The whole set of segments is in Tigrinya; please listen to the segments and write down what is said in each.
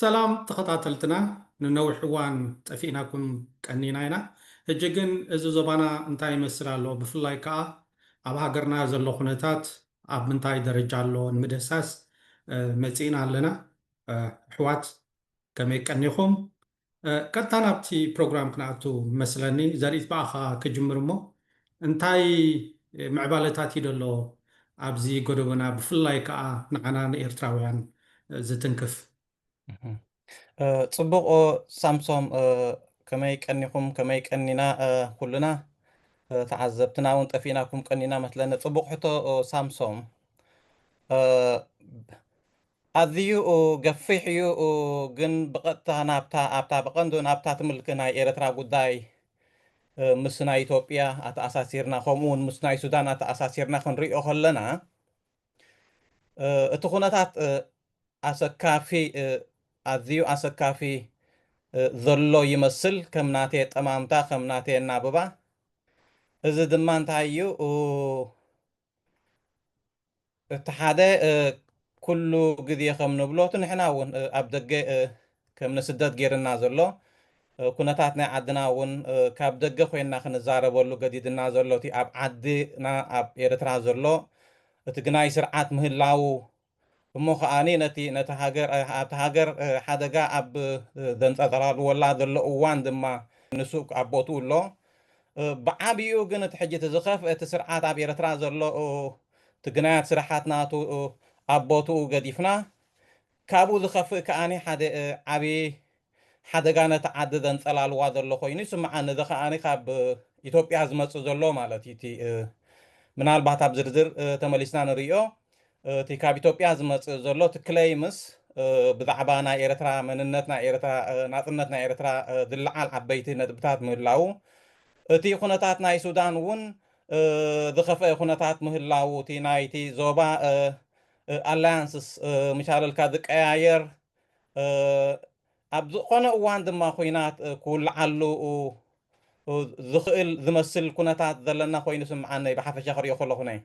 ሰላም ተኸታተልትና ንነዊሕ እዋን ጠፊእናኩም ቀኒና ኢና ህጂ ግን እዚ ዞባና እንታይ ይመስል ኣሎ ብፍላይ ከኣ ኣብ ሃገርና ዘሎ ኩነታት ኣብ ምንታይ ደረጃ ኣሎ ንምድህሳስ መጺእና ኣለና ኣሕዋት ከመይ ቀኒኹም ቀጥታ ናብቲ ፕሮግራም ክንኣቱ መስለኒ ዘሪኢት ብኣኻ ክጅምር እሞ እንታይ ምዕባለታት እዩ ደሎ ኣብዚ ጎደቦና ብፍላይ ከኣ ንዓና ንኤርትራውያን ዝትንክፍ። ጽቡቕ ሳምሶም ከመይ ቀኒኹም ከመይ ቀኒና ኩልና ተዓዘብትና እውን ጠፊእናኩም ቀኒና መስለኒ ጽቡቕ ሕቶ ሳምሶም ኣዚዩኡ ገፊሕዩ ግን ብቀጥታ ናብታ ኣብታ ብቀንዱ ናብታ ትምልክ ናይ ኤረትራ ጉዳይ ምስ ናይ ኢትዮጵያ ኣተኣሳሲርና ከምኡ ውን ምስ ናይ ሱዳን ኣተኣሳሲርና ክንሪኦ ከለና እቲ ኩነታት ኣሰካፊ ኣዚዩ ኣሰካፊ ዘሎ ይመስል ከም ናቴ ኣጠማምታ ከም ናቴ ኣናብባ እዚ ድማ እንታይ እዩ እቲ ሓደ ኩሉ ግዜ ከም ንብሎ እቲ ንሕና እውን ኣብ ደገ ከም ንስደት ገይርና ዘሎ ኩነታት ናይ ዓድና እውን ካብ ደገ ኮይንና ክንዛረበሉ ገዲድና ዘሎ እቲ ኣብ ዓድና ኣብ ኤርትራ ዘሎ እቲ ግናይ ስርዓት ምህላዉ እሞ ከኣ ነቲ ነታ ሃገር ኣብታ ሃገር ሓደጋ ኣብ ዘንጸጸራልወላ ዘሎ እዋን ድማ ንሱ ኣብ ቦትኡ ኣሎ። ብዓቢኡ ግን እቲ ሕጂ እቲ ዝኸፍኤ እቲ ስርዓት ኣብ ኤርትራ ዘሎ እቲ ግናያት ስራሓት ናቱ ኣብ ቦትኡ ገዲፍና ካብኡ ዝኸፍእ ከኣ ሓደ ዓቢ ሓደጋ ነቲ ዓዲ ዘንጸላልዋ ዘሎ ኮይኑ ይስምዓኒ እዚ ከኣ ካብ ኢትዮጵያ ዝመጽእ ዘሎ ማለት እዩ እቲ ምናልባት ኣብ ዝርዝር ተመሊስና ንርእዮ እቲ ካብ ኢትዮጵያ ዝመጽእ ዘሎ እቲ ክለይምስ ብዛዕባ ናይ ኤርትራ መንነት ናይ ኤርትራ ናጽነት ናይ ኤርትራ ዝለዓል ዓበይቲ ነጥብታት ምህላዉ እቲ ኩነታት ናይ ሱዳን እውን ዝኸፍአ ኩነታት ምህላዉ እቲ ናይቲ ዞባ ኣላያንስስ ምሻለልካ ዝቀያየር ኣብ ዝኸነ እዋን ድማ ኹናት ክውልዓሉ ዝኽእል ዝመስል ኩነታት ዘለና ኮይኑ ይስምዓኒ ብሓፈሻ ክሪኦ ከለኹ ነይ።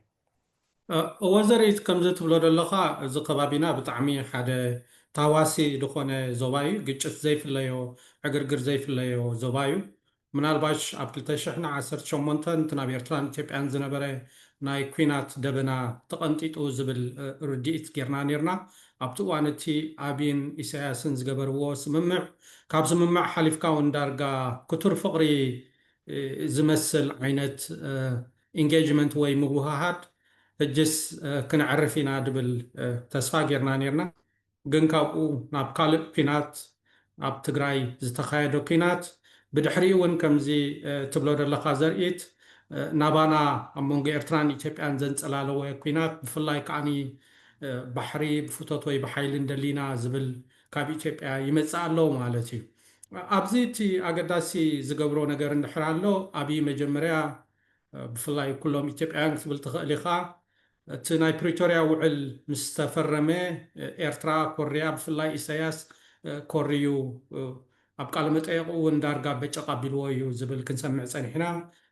ወዘሪት ከምዚ ትብሎ ደለኻ እዚ ከባቢና ብጣዕሚ ሓደ ታዋሲ ድኾነ ዞባ እዩ ግጭት ዘይፍለዮ ዕግርግር ዘይፍለዮ ዞባ እዩ ምናልባሽ ኣብ ክልተ ሽሕን ዓሰርተ ሸሞንተን እቲ ናብ ኤርትራን ኢትዮጵያን ዝነበረ ናይ ኩናት ደበና ተቐንጢጡ ዝብል ርድኢት ጌርና ኔርና። ኣብቲ እዋን እቲ ኣቢን ኢሳያስን ዝገበርዎ ስምምዕ ካብ ስምምዕ ሓሊፍካ ውን ዳርጋ ክቱር ፍቕሪ ዝመስል ዓይነት ኢንጌጅመንት ወይ ምውህሃድ ሕጅስ ክነዕርፍ ኢና ድብል ተስፋ ጌርና ኔርና። ግን ካብኡ ናብ ካልእ ኩናት ኣብ ትግራይ ዝተኻየደ ኩናት ብድሕሪኡ ውን ከምዚ ትብሎ ደለኻ ዘርኢት ናባና ኣብ መንጎ ኤርትራን ኢትዮጵያን ዘንጸላለወ ኩናት ብፍላይ ከኣ ባሕሪ ብፍቶት ወይ ብሓይሊ እንደሊና ዝብል ካብ ኢትዮጵያ ይመጽእ ኣሎ ማለት እዩ ኣብዚ እቲ ኣገዳሲ ዝገብሮ ነገር እንድሕር ኣሎ ኣብይ መጀመርያ ብፍላይ ኩሎም ኢትዮጵያውያን ክትብል ትኽእል ኢኻ እቲ ናይ ፕሪቶርያ ውዕል ምስ ተፈረመ ኤርትራ ኮርያ ብፍላይ ኢሰያስ ኮርዩ ኣብ ቃለ መጠየቁ ውን ዳርጋ በጨቅ ኣቢልዎ እዩ ዝብል ክንሰምዕ ጸኒሕና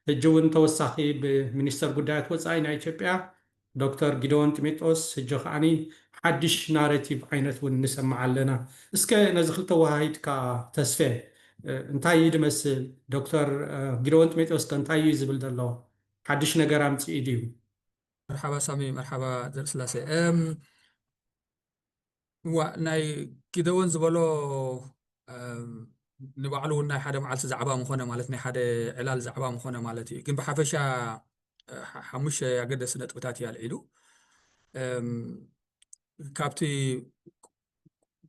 ህጂ ውን ተወሳኪ ብ ሚኒስተር ጉዳያት ወጻኢ ናይ ኢትዮጵያ ዶክተር ጊደዎን ጢሜጦስ ህጂ ከኣኒ ሓድሽ ናረቲቭ ዓይነት ውን ንሰምዕ ኣለና እስከ ነዚ ክልተ ወሃሂድካ ተስፌ እንታይ እዩ ድመስል ዶክተር ጊደዎን ጢሜጦስ ከ እንታይ እዩ ዝብል ዘሎ ሓድሽ ነገር ኣምጺኡ ድዩ መርሓባ ሳሚ መርሓባ ዘርእስላሴ እዋእ ናይ ጊደዎን ዝበሎ ንባዕሉ እውን ናይ ሓደ መዓልቲ ዛዕባ ምኾነ ማለት ናይ ሓደ ዕላል ዛዕባ ምኾነ ማለት እዩ ግን ብሓፈሻ ሓሙሽተ ኣገደሲ ነጥብታት እዩ ኣልዒሉ ካብቲ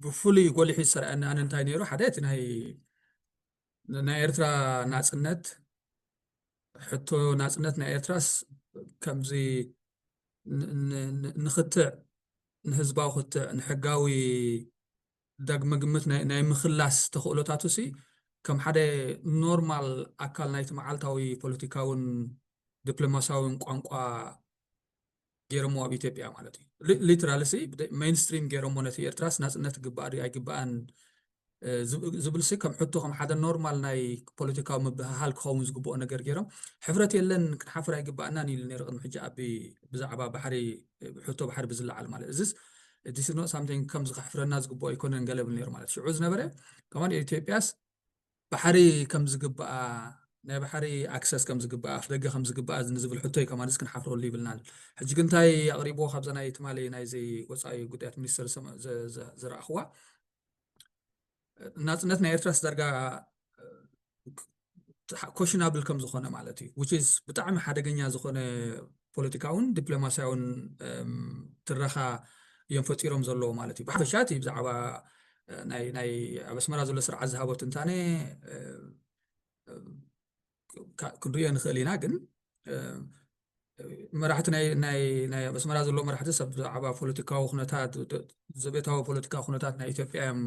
ብፍሉይ ጎሊሑ ዝሰርዐኒ ኣነ እንታይ ነይሩ ሓደ እቲ ናይ ናይ ኤርትራ ናጽነት ሕቶ ናጽነት ናይ ኤርትራስ ከምዚ ንክትዕ ንህዝባዊ ክትዕ ንሕጋዊ ዳግመ ግምት ናይ ምክላስ ተኽእሎታቱ ሲ ከም ሓደ ኖርማል ኣካል ናይቲ መዓልታዊ ፖለቲካውን ዲፕሎማሲያውን ቋንቋ ጌሮሞ ኣብ ኢትዮጵያ ማለት እዩ ሊትራል ሲ ሜንስትሪም ጌሮሞ ነቲ ኤርትራስ ናጽነት ግባእ ድዩ ኣይግባእን ዝብል ሲ ከም ሕቶ ከም ሓደ ኖርማል ናይ ፖለቲካዊ ምብህሃል ክኸውን ዝግብኦ ነገር ጌሮም ሕብረት የለን ክንሓፍር ኣይግባእናን ኢሉ ነይሩ ቅድሚ ሕጂ ኣቢ ብዛዕባ ባሕሪ ሕቶ ባሕሪ ብዝለዓል ማለት እዚስ ዲስ ኖት ሳምቲንግ ከምዚ ከሕፍረና ዝግብኦ ኣይኮነን ገለ ብል ነይሩ ማለት ሽዑ ዝነበረ ከማን ኢትዮጵያስ ባሕሪ ከም ዝግብኣ ናይ ባሕሪ ኣክሰስ ከም ዝግብኣ ኣፍደገ ከም ዝግብኣ ንዝብል ሕቶይ ከማንስ ክንሓፍረሉ ይብልናን ሕጂ ግን እንታይ ኣቕሪብዎ ካብዛ ናይ ትማሊ ናይዚ ወፃኢ ጉዳያት ሚኒስትር ዝረኣኽዋ ናፅነት ናይ ኤርትራስ ዳርጋ ኮሽናብል ከም ዝኾነ ማለት እዩ ብጣዕሚ ሓደገኛ ዝኾነ ፖለቲካውን ዲፕሎማስያውን ትረኻ እዮም ፈጢሮም ዘለዉ ማለት እዩ ብሓፈሻ እቲ ብዛዕባ ናይ ኣብ ኣስመራ ዘሎ ስርዓት ዝሃቦ ትንታነ ክንሪኦ ንኽእል ኢና ግን መራሕቲ ናይ ኣብ ኣስመራ ዘሎ መራሕቲ ሰብ ብዛዕባ ፖለቲካዊ ኩነታት ዘቤታዊ ፖለቲካ ኩነታት ናይ ኢትዮጵያ እዮም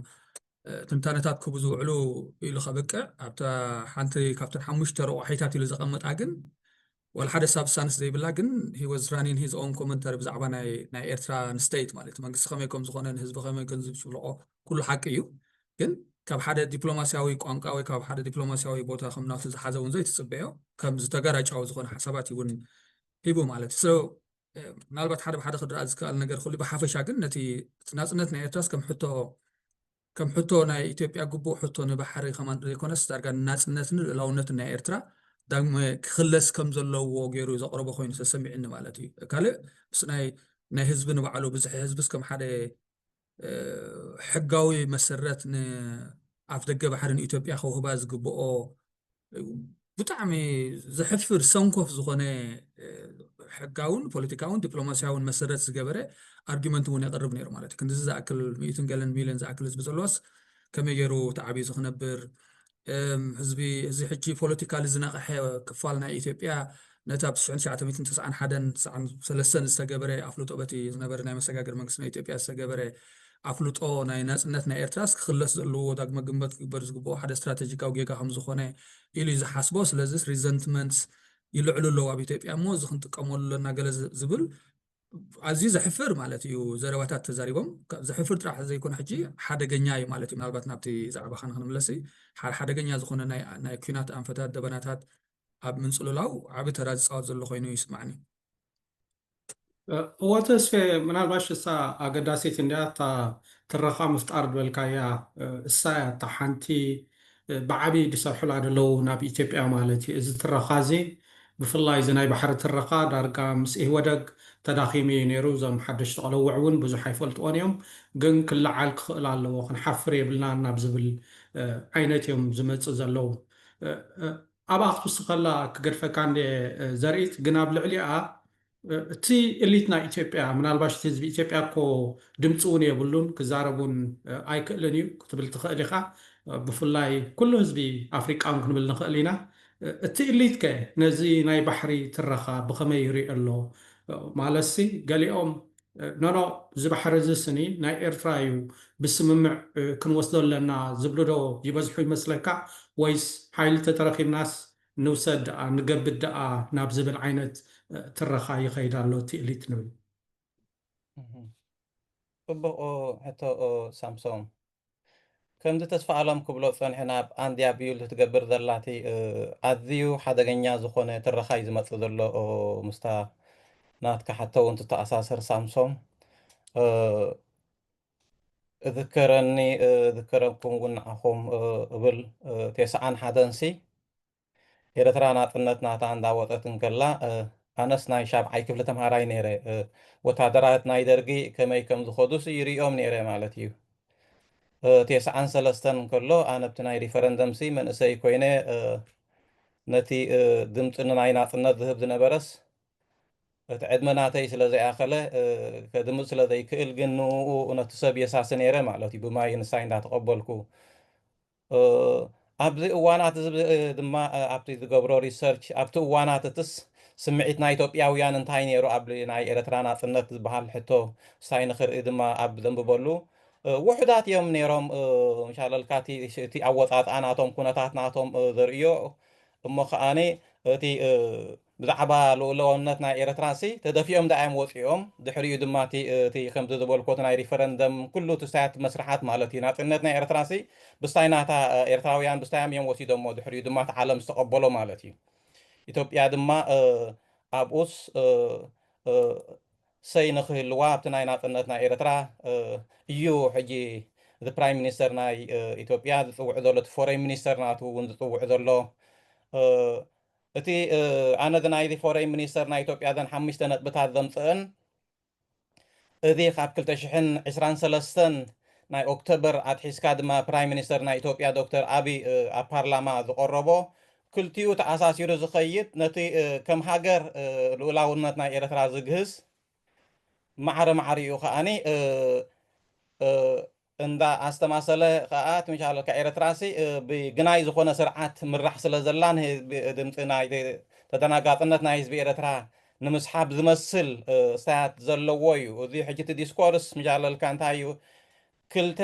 ትንታነታት ክቡ ዝውዕሉ ኢሉ ከብቅዕ ኣብታ ሓንቲ ካብተን ሓሙሽተ ረቑሒታት ኢሉ ዘቐምጣ ግን ዋላ ሓደ ሳብሳንስ ዘይብላ ግን ሂ ወዝ ራኒን ሂዝ ኦን ኮመንተሪ ብዛዕባ ናይ ናይ ኤርትራ ንስተይት ማለት እዩ መንግስቲ ከመይ ከም ዝኾነ ንህዝቢ ከመይ ከም ዝብጽብልቆ ኩሉ ሓቂ እዩ ግን ካብ ሓደ ዲፕሎማስያዊ ቋንቋ ወይ ካብ ሓደ ዲፕሎማስያዊ ቦታ ከም ናቱ ዝሓዘ እውን ዘይትጽበዮ ከም ዝተጋራጫዊ ዝኾነ ሓሳባት እዩ እውን ሂቡ ማለት እዩ ምናልባት ሓደ ብሓደ ክድረኣ ዝከኣል ነገር ክሉ ብሓፈሻ ግን ነቲ ናፅነት ናይ ኤርትራስ ከም ሕቶ ከም ሕቶ ናይ ኢትዮጵያ ግቡእ ሕቶ ንባሕሪ ከም ዘይኮነስ ዳርጋ ንናጽነትን ልኡላውነትን ናይ ኤርትራ ዳግመ ክኽለስ ከም ዘለዎ ገይሩ ዘቕረቦ ኮይኑ ተሰሚዑኒ ማለት እዩ። ካልእ ምስ ናይ ናይ ህዝቢ ንባዕሉ ብዝሒ ህዝብስ ከም ሓደ ሕጋዊ መሰረት ንኣፍደገ ባሕሪ ንኢትዮጵያ ከውህባ ዝግብኦ ብጣዕሚ ዘሕፍር ሰንኮፍ ዝኾነ ሕጋውን ፖለቲካውን ዲፕሎማስያውን መሰረት ዝገበረ ኣርጊመንት እውን የቕርብ ነይሩ ማለት እዩ ክንዚ ዝኣክል ሚእትን ገለን ሚልዮን ዝኣክል ህዝቢ ዘለዋስ ከመይ ገይሩ ተዓብዩ ዝክነብር ህዝቢ እዚ ሕጂ ፖለቲካሊ ዝነቕሐ ክፋል ናይ ኢትዮጵያ ነቲ ኣብ ትሽሕን ትሽዓተ ሚእትን ተሰዓን ሓደን ትሰዓን ሰለስተን ዝተገበረ ኣፍልጦ በቲ ዝነበረ ናይ መሰጋገሪ መንግስቲ ናይ ኢትዮጵያ ዝተገበረ ኣፍልጦ ናይ ናጽነት ናይ ኤርትራስ ክኽለስ ዘለዎ ዳግመ ግንበት ክግበር ዝግብኦ ሓደ ስትራተጂካዊ ጌጋ ከም ዝኾነ ኢሉ እዩ ዝሓስቦ ስለዚስ ሪዘንትመንትስ ይልዕሉ ኣለዉ ኣብ ኢትዮጵያ እሞ እዚ ክንጥቀመሉ ኣለና ገለ ዝብል ኣዝዩ ዘሕፍር ማለት እዩ ዘረባታት ተዛሪቦም ዘሕፍር ጥራሕ ዘይኮነ ሕጂ ሓደገኛ እዩ ማለት እዩ ምናልባት ናብቲ ዛዕባኻ ንክንምለስ ሓደገኛ ዝኾነ ናይ ኩናት ኣንፈታት ደበናታት ኣብ ምንጽልላው ዓቢ ተራ ዝጻወት ዘሎ ኮይኑ ይስማዕኒ። እወ ተስፌ ምናልባሽ እሳ ኣገዳሲት እንድያ እታ ትረኻ ምፍጣር ዝበልካያ እሳ እያ እታ ሓንቲ ብዓቢ ድሰርሑላ ደለዉ ናብ ኢትዮጵያ ማለት እዩ እዚ ትረኻ እዚ ብፍላይ እዚ ናይ ባሕሪ ትረኻ ዳርጋ ምስ ኢህወደግ ተዳኺሙ እዩ ነይሩ እዞም ሓደሽቲ ቆለውዕ እውን ብዙሕ ኣይፈልጥዎን እዮም ግን ክለዓል ክኽእል ኣለዎ ክንሓፍር የብልናን ናብ ዝብል ዓይነት እዮም ዝመጽእ ዘለዉ ኣብኣ ክትውስኸላ ክገድፈካ እንድየ ዘርኢት ግን ኣብ ልዕሊኣ እቲ እሊት ናይ ኢትዮጵያ ምናልባሽ እቲ ህዝቢ ኢትዮጵያ እኮ ድምፂ እውን የብሉን ክዛረብ እውን ኣይክእልን እዩ ክትብል ትኽእል ኢኻ ብፍላይ ኩሉ ህዝቢ ኣፍሪቃ እውን ክንብል ንኽእል ኢና እቲ እሊት ከ ነዚ ናይ ባሕሪ ትረኻ ብኸመይ ይሪኦ ኣሎ ማለትሲ ገሊኦም ኖኖ እዚ ባሕሪ እዚ ስኒ ናይ ኤርትራ እዩ ብስምምዕ ክንወስዶ ኣለና ዝብሉ ዶ ይበዝሑ ይመስለካ ወይስ ሓይሊ ተተረኪብናስ ንውሰድ ደኣ ንገብድ ደኣ ናብ ዝብል ዓይነት ትረኻ ይኸይድ ኣሎ እቲ ኢሊት ንብል። ጽቡቕ ሕቶ ሳምሶም። ከምዚ ተስፋኣለም ክብሎ ዝጸንሐ ናብ ኣንድያ ቢውልድ ትገብር ዘላ እቲ ኣዝዩ ሓደገኛ ዝኾነ ትረኻ እዩ ዝመጽእ ዘሎ ምስታ ናትካ ሓቶ እውን ትተኣሳሰር ሳምሶም እዝከረኒ እዝከረኩም እውን ንዓኹም እብል ቴስዓን ሓደንሲ ኤረትራ ናጽነት ናታ እንዳወጸት እንከላ ኣነስ ናይ ሻብዓይ ክፍሊ ተምሃራይ ኔረ ወታደራት ናይ ደርጊ ከመይ ከም ዝኸዱስ ይርእዮም ኔረ ማለት እዩ ቴስዓን ሰለስተን እንከሎ ኣነብቲ ናይ ሪፈረንደምሲ መንእሰይ ኮይነ ነቲ ድምጺ ንናይ ናጽነት ዝህብ ዝነበረስ እቲ ዕድመ ናተይ ስለ ዘይኣኸለ ከድምጽ ስለ ዘይክእል ግን ንኡ ነቲ ሰብ የሳሲ ኔረ ማለት እዩ ብማይ ንሳይ እንዳተቐበልኩ ኣብዚ እዋናት እዚ ድማ ኣብቲ ዝገብሮ ሪሰርች ኣብቲ እዋናት እትስ ስምዒት ናይ ኢትዮጵያውያን እንታይ ነይሩ ኣብ ናይ ኤረትራ ናጽነት ዝበሃል ሕቶ ሳይ ንክርኢ ድማ ኣብ ዘንብበሉ ውሑዳት እዮም ነይሮም ሻለልካ እቲ ኣወጻጽኣ ናቶም ኩነታት ናቶም ዘርእዮ እሞ ከኣኒ እቲ ብዛዕባ ልኡላውነት ናይ ኤረትራሲ ተደፊኦም ደኣ እዮም ወጺኦም ድሕሪኡ ድማ እቲ እቲ ከምዚ ዝበልኩዎ እቲ ናይ ሪፈረንደም ኩሉ እቲ ስታያት መስርሓት ማለት እዩ ናጽነት ናይ ኤረትራሲ ብስታይ ናታ ኤርትራውያን ብስታዮም እዮም ወሲዶሞ ድሕሪኡ ድማ እቲ ዓለም ዝተቀበሎ ማለት እዩ ኢትዮጵያ ድማ ኣብኡስ ሰይ ንክህልዋ ኣብቲ ናይ ናጽነት ናይ ኤረትራ እዩ ሕጂ እቲ ፕራይም ሚኒስተር ናይ ኢትዮጵያ ዝጽውዕ ዘሎ እቲ ፎረይን ሚኒስተር ናቱ እውን ዝጽውዕ ዘሎ እቲ ኣነ እዚ ናይዚ ፎረይን ሚኒስተር ናይ ኢትዮጵያ እዘን ሓሙሽተ ነጥብታት ዘምጽእን እዚ ካብ ክልተ ሽሕን ዕስራን ሰለስተን ናይ ኦክተበር ኣትሒዝካ ድማ ፕራይም ሚኒስተር ናይ ኢትዮጵያ ዶክተር ኣቢ ኣብ ፓርላማ ዝቆረቦ ክልቲኡ ተኣሳሲሩ ዝኸይድ ነቲ ከም ሃገር ልኡላውነት ናይ ኤርትራ ዝግህስ ማዕረ ማዕሪኡ ከኣኒ እንዳ ኣስተማሰለ ከኣ ትምሻለልካ ኤረትራሲ ብ ግናይ ዝኮነ ስርዓት ትምራሕ ስለ ዘላ ን ህዝቢ ድምጺ ናይቲ ተደናጋጽነት ናይ ህዝቢ ኤረትራ ንምስሓብ ዝመስል ስታያት ዘለዎ ዩ እዚ ሕጂ እቲ ዲስኮርስ ትምሻለልካ እንታይ ዩ ክልተ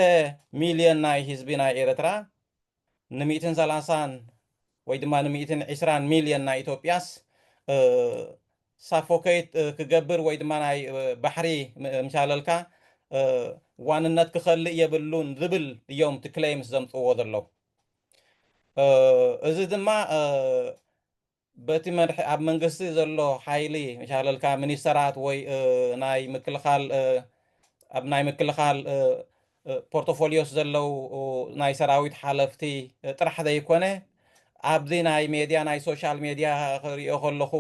ሚልዮን ናይ ህዝቢ ናይ ኤረትራ ንሚእትን ሰላሳን ወይ ድማ ንሚእትን ዒስራን ሚልዮን ናይ ኢትዮጵያስ ሳፎከይት ክገብር ወይ ድማ ናይ ባሕሪ ምሻለልካ ዋንነት ክኸልእ የብሉን ዝብል እዮም እቲ ክሌምስ ዘምፅዎ ዘለዉ። እዚ ድማ በቲ መድሒ ኣብ መንግስቲ ዘሎ ሓይሊ ሻለልካ ሚኒስተራት ወይ ናይ ምክልኻል ኣብ ናይ ምክልኻል ፖርቶፎሊዮስ ዘለው ናይ ሰራዊት ሓለፍቲ ጥራሕ ዘይኮነ ኣብዚ ናይ ሜድያ ናይ ሶሻል ሜድያ ክሪኦ ከለኹ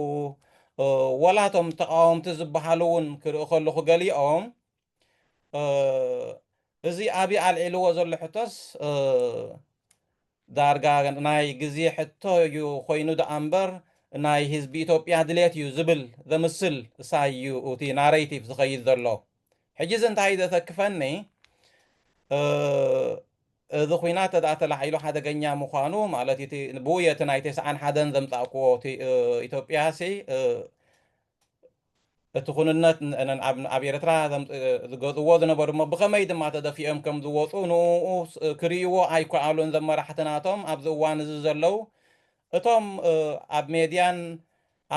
ወላ እቶም ተቃወምቲ ዝበሃሉ እውን ክርኢ ከለኹ ገሊኦም እዚ ኣብይ ኣልዒልዎ ዘሎ ሕቶስ ዳርጋ ናይ ግዜ ሕቶ እዩ ኮይኑ ደኣ እምበር ናይ ህዝቢ ኢትዮጵያ ድሌት እዩ ዝብል ዘምስል እሳዩ እቲ ናሬቲቭ ዝኸይድ ዘሎ ሕጂ እዚ እንታይ ዘተክፈኒ እዚ ኩናት ተደኣ ተላዒሉ ሓደገኛ ምዃኑ ማለት እቲ ብውየቲ ናይ ቴስዓን ሓደን ዘምጻእክዎ ኢትዮጵያ ሲ እቲ ኩንነት ንኣብ ኤርትራ ዝገዝዎ ዝነበሩ እሞ ብኸመይ ድማ ተደፊኦም ከም ዝወጹ ንኡኡ ክርእይዎ ኣይከኣሉን እዞም መራሕቲ ናቶም ኣብዚ እዋን እዚ ዘለው እቶም ኣብ ሜድያን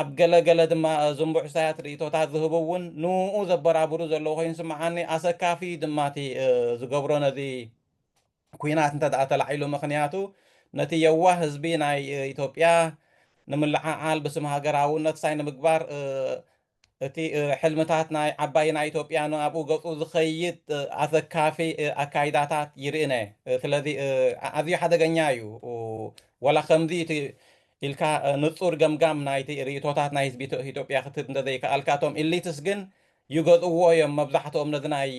ኣብ ገለ ገለ ድማ ዝምቡዕሳያት ርእይቶታት ዝህቡ እውን ንኡኡ ዘበራብሩ ዘለው ኮይኑ ይስምዓኒ ኣሰካፊ ድማቲ ዝገብሮ ነዚ ኩናት እንተድኣ ተላዒሉ ምኽንያቱ ነቲ የዋህ ህዝቢ ናይ ኢትዮጵያ ንምልዕዓል ብስም ሃገራውነት ሳይ ንምግባር እቲ ሕልምታት ናይ ዓባይ ናይ ኢትዮጵያ ንኣብኡ ገጹ ዝኸይድ ኣሰካፊ ኣካይዳታት ይርእነ ስለዚ ኣዝዩ ሓደገኛ እዩ ወላ ከምዚ እቲ ኢልካ ንጹር ገምጋም ናይቲ ርእቶታት ናይ ህዝቢ ኢትዮጵያ ክትህብ እንተዘይከኣልካ እቶም ኢሊትስ ግን ይገዝእዎ እዮም መብዛሕትኦም ነዚ ናይ